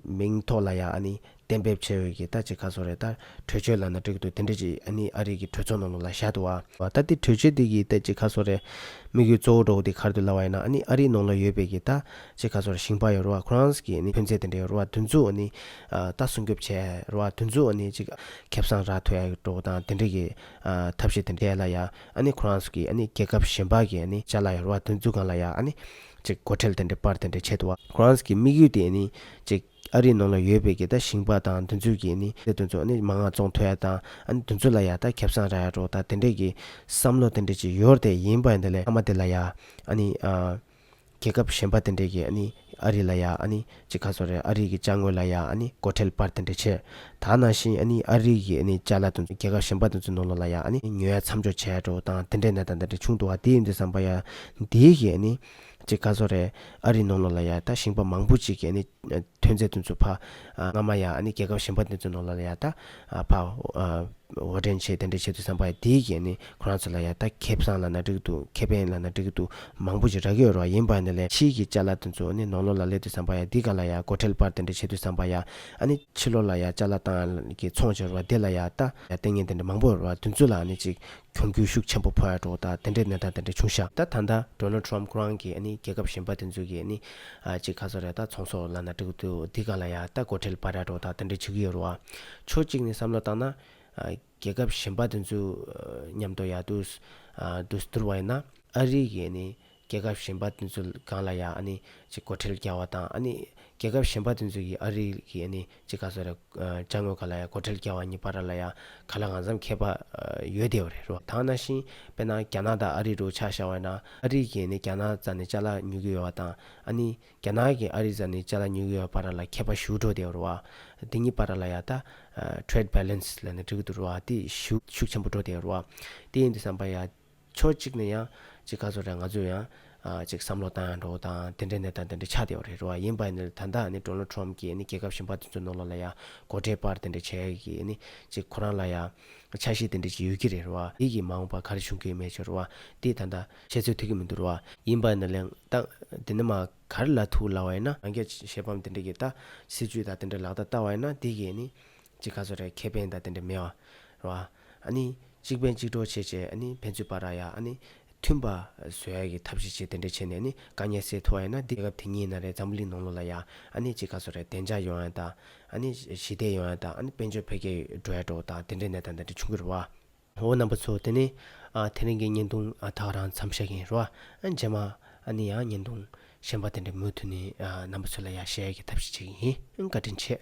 མིང་ཐོག་ལ་ཡ་ཨ་ནི་གཏན་འབེབས་བྱེད་འོས་ཀྱི་ལྟ་ཅི་ག་སོགས་རེད་ལྟ། གྲོས་ཆོད་ལ་ན་འགྲིག་འདུག་དེ་འདྲ་ཅིག་ཨ་ནི་ཨ་རིག་གི་གྲོས་ཚོགས་ནང་ལུགས་ལ་བཞག་འདུག་བ། ལྟ་དེ་གྲོས་ཆོད་དེ་གི་ལྟ་ཅི་ག་སོགས་རེད། དམིགས་ཡུལ་གཙོ་བོ་འགྲོ་བ་དེ་གར་དུ་ལ་བ་ཡིན་ན་ཨ་ནི་ཨ་རིག་ནང་ལ་ཡོད་པའི་གི་ལྟ་ཅི་ག་སོགས་ཞིང་པ་ཡོད་རུ་བ Crowns གི་ཨ་ནི་ཐོན་རྫས་དེ་འདྲ་ཡོད་རུ་བ་དུས་མཚུངས་ཨ་ནི་ལྟ་སྲུང་སྐྱོབ་བྱས་རུ་བ་དུས་མཚུངས་ཨ་ནི་ཅིག་ཁེབས་བཟང་རག་ཐུ་ཡག་འགྲོ་བ་དང་དེ་འདྲ་གི་ཐབས་ཤེས་དེ་འདྲ་ཡལ་ལ་ཡག་ཨ་ནི Crowns གི་ཨ་ནི་རྒྱལ་ཁབ་གཞན་པ་གི་ཨ་ནི་བྱ་ལ་ཡོད་རུ་བ་དུས་མཚུངས་གང་ལ་ཡག་ཨ་ནི་ཅིག་སྒོ་ཁྲལ་དེ་འདྲ་པར་དེ་འདྲ་བྱས་འདུག་བ། Crowns གི་དམིགས་ཡུལ་དེ་ཨ་ནི་ཅིག། ཨ་རིའི་ནང་ལ་ཡོད་པའི་གི་ད་ཞིང་པ་དང་དུ་འཛུལ་གི་ནི་དུ་འཛུལ་ནི་མ་ང་ཙོང་ཐོའི་དང་ཨ་ནི་དུ་འཛུལ་ལ་ཡ་ད་ཁེབས་སང་ར་ཡ་རོ་ད་དེ་འདྲས་གི་བསམ་བློ་དེ་འདྲས་ཅིག་ཡོར་དེ་ཡིན་པ་འདི་ལས་ཨ་མ་དེ་ལ་ཡ་ཨ་ནི་ཨ། གི་ཁབ་ཞེན་པ་དེ་འདྲས་གི་ཨ་ནི་ཨ་རི་ལ་ཡ་ཨ་ནི་ཅིག་ཁ་སོ་རེ་ཨ་རི་གི་བཅའ་དངོས་ལ་ཡ་ཨ་ནི་གོ་ཁྲེལ་པར་དེ་འདྲས་ཆེ་ད་ན་ཞིང་ཨ་ནི་ཨ་རི་གི་ཨ་ནི་བཅའ་ལ་དུ་འཛུལ་གི་ཁབ་ཞེན་པ་དུ་འཛུལ་ནོ་ལོ་ལ་ཡ་ཨ་ནི་ཉོ་ཡ་མཚམས་འཇོག་བྱས་རོ་དང་དེ་འདྲས་ནད་ད་འདི་འདྲས་ཆུང་དུ་བ་དེའི་འདི་བསམ་པ་ཡ་འདིའི་གི་ཨ་ནི། ཅེས་བཀའ་ཟོ་རེད། ཨ་རིའི་ནང་ལོགས་ལ་ཡང་ད་ཞིང་པ་མང་པོ་ཅིག་གིས་ཨ་ནི་ཐོན་རྫས་དེ་ཚོ་ཕ། སྔ་མ་ཡང་ཨ་ནི་རྒྱལ་ཁབ་གཞན་པ་དེ་ཚོའི་ནང་ལོགས་ལ་ཡང་ད་ཕ། འོར་འདྲེན་བྱེད་དེ་འདྲ་བྱེད་དུ་བསམ་པ་ཡང་དེའི་གིས་ཨ་ནི་ཁོ་རང་ཚོ་ལ་ཡང་ད་ཁེ་བཟང་ལ་ན་འགྲིག་འདུག་ཁེ་ཕན་ལ་ན་འགྲིག་འདུག་མང་པོ་ཅིག་རག་གི་ཡོད་རོགས་ཡིན་པ་ནི་ལས་ཕྱིའི་གི་བཅའ་ལག་དེ་ཚོ་ཨ་ནི་ནང་ལོགས་ལ་སླེབས་དུས་བསམ་པ་ཡང་འདི་ག་ལ་ཡང་སྒོ་ཁྲལ་པར་དེ་འདྲ་བྱེད་དུས་བསམ་པ་ཡང་ཨ་ནི་ཕྱི་ལོགས་ལ་ཡང་བཅའ་ལག་དང་གི་ཚོང་བྱེད་རོགས་བདེ་ལ་ཡང་ད་ཡང་ལྟས་ངན་དེ་འདྲ་མང་པོ་ཡོད་རོགས་དེ་ཚོ་ལ་ཨ་ནི་ཅིག་གྱོང་གུད་ཤུགས་ཆེན་པོ་ཕོག་ཡ་འགྲོ་ད་དེ་འདྲའི་གནས་སྟངས་དེ་འདྲ་བྱུང་ཤག། ད་ད་ད Donald Trump ཁོ་རང་གིས་ནི་རྒྱལ་ཁབ་གཞན་པ་དེ་ཚོ་གིས་ནི་ཅིག་ག་ཚོ་རེད་ད་ཚོང་ཟོག་ལ་ན་འགྲིག་འདུག་འདི་ག་ལ་ཡ་ད་སྒོ་ཁྲལ་པ་ར་འགྲོ་ད་དེ་འདྲ་བྱེད་ཀྱི་ཡོད་རོ་ཨ། ཕྱོགས་གཅིག་ནས་བསམ་བློ་བཏང་ན། རྒྱལ་ཁབ་གཞན་པ་དེ་ཚོའི་མཉམ་དུ་ཡ་དུས། དུས་བསྡུར་བ་ཡིན་ན། ཨ་རི་གིས་ནི་རྒྱལ་ཁབ་གཞན་པ་དེ་ཚོ་གང་ལ་ཡང་ཨ་ནི་ཅི་གོ་ཁྲེལ་རྒྱག་བ་དང་ཨ་ནི། རྒྱལ་ཁབ་གཞན་པ་དེ་ཚོ་ཡིས་ཨ་རི་གི་ཨ་ནི་ཅི་ག་ཚོ་རེ་བཅའ་དངོས་ག་ལ་ཡང་གོ་ཁྲེལ་རྒྱག་བ་གཉིས་པ་ར་ལ་ཡང་ག་ལ་འང་ཚམ་མཁས་པ་ཡོད་བསྡད་བ་རེད་རོ། དང་ན་ཤིང་དཔེར་ན་རྒྱ་ནག་དང་ཨ་རི་རུ་ཆགས་ཤ་བ་ཡིན་ན་ཨ་རི་གིས་ཨ་ནི་རྒྱ་ནག་རྩ་ནས་ལྕགས་ལ་ཉུལ་གི་ཡོད་བ་དང་ཨ་ནི་རྒྱ་ནག་གིས་ཨ་རི་རྩ་ནས་ལྕགས་ལ་ཉུལ་གི་ཡོད་པ་ར་ལ་མཁས་པ་ཞུ་འགྲོ་བསྡད་བ་རོ། དེ་གཉིས་པ་ར་ལ་ཡང་ད Trade Balance ལ་ནི་འགྲིག་གི་འདུག་རོ། དེ་ཤུགས་ཆེན་པོ་འགྲོ་བསྡད་བ་རོ། དེ་ཡིན་དུ་བསམ་པ་ཡ། ཕྱོགས་གཅིག་ནས་ཡང། ཅིག་ག་ཚོད་རེད་ང་ཚོས་ཡང། ཅིག་བསམ་བློ་བཏང་ཡང་འགྲོ་བ་དང་དེ་འདྲའི་གནས་སྟངས་དེ་འདྲ་ཆགས་བསྡད་པ་རེད་རེད་བ་ཡིན་པ་ནི་ད་ལྟ་ནི Donald Trump ཀྱིས་ནི་རྒྱལ་ཁབ་གཞན་པ་དེ་ཚོའི་ནང་ལ་ལ་ཡང་མགོ་ཁྲེལ་པར་དེ་འདྲ་བྱས་ཀྱི་ནི་ཅིག་ཁོ་རང་ལ་ཡང། ཆ་ཤས་དེ་འདྲ་ཅིག་ཡོད་ཀྱི་རེད་རེད་བ་འདི་ཀྱི་མ་འོངས་པར་ག་རེ་བྱུང་གི་ཡོད་མེད་ཅེ་རེད་བ་འདི་ད་ལྟ། བཤད་ཚོད་ཐིག་གི་མི་འདུག་རེད་བ། ཡིན་པ་ནི་ལན། ད། དེ་འདྲ་མ། ག་རེ་ལ་ཐུག་ལ་བ་ཡིན་ན། རང་རྒྱལ་གྱི་ཤེས་ཕམ་དེ་འདྲ་གྱི་ད། སྲིད་ཇུས་དང་དེ་འདྲ་ལག་བསྟར་བསྟར་བ་ཡིན་ན་དེ་གིས་ནི། ཅིག་ག་ཚོད་རེད་ཁེ་ཕན་དང་དེ་འདྲ་མེད་བ། རེད་བ། གཅིག་ཕན་གཅིག་གྲོགས་བྱེད་ཅེས་ཕན་ཚུན་བར་ར་ཡ་མཐུན་པ་བཟོ་ཡ་གི་ཐབས་ཤེས་བྱེད་དེ་འདྲ་བྱས་ནས་དཀའ་ངལ་སེལ་ཐུབ་བ་ཡིན་ན་དེ་སྐབས་དེ་ཉིད་ཡིན་ན་རེད་འཛམ་བུ་གླིང་ནང་ལོ་ལ་ཡ་གཅིག་ག་ཚོད་རེད་བདེ་འཇགས་ཡོང་ཡ་དང་ཞི་བདེ་ཡོང་ཡ་དང་དཔལ་འབྱོར་འཕེལ་རྒྱས་འགྲོ་ཡ་འགྲོ་དང་དེ་འདྲའི་གནས་སྟངས་དེ་འདྲ་བྱུང་གི་རེད་བ། འོ་རྣམ་པ་ཚོ་དེ་ནི་དེ་རིང་གི་བརྙན་ཐུང་དག་རང་འཚམས་བཤད་གིན་རེད་བ། རྗེས་མ་ཡང་བརྙན་ཐུང་གཞན་པ་དེ་འདྲ་མུ་མཐུད་ནས་རྣམ་པ་ཚོ་ལ་ཡ་བཤད་ཡ་གི་ཐབས་ཤེས་བྱེད་གིན་ཡིན་བཀའ་དྲིན་ཆེ།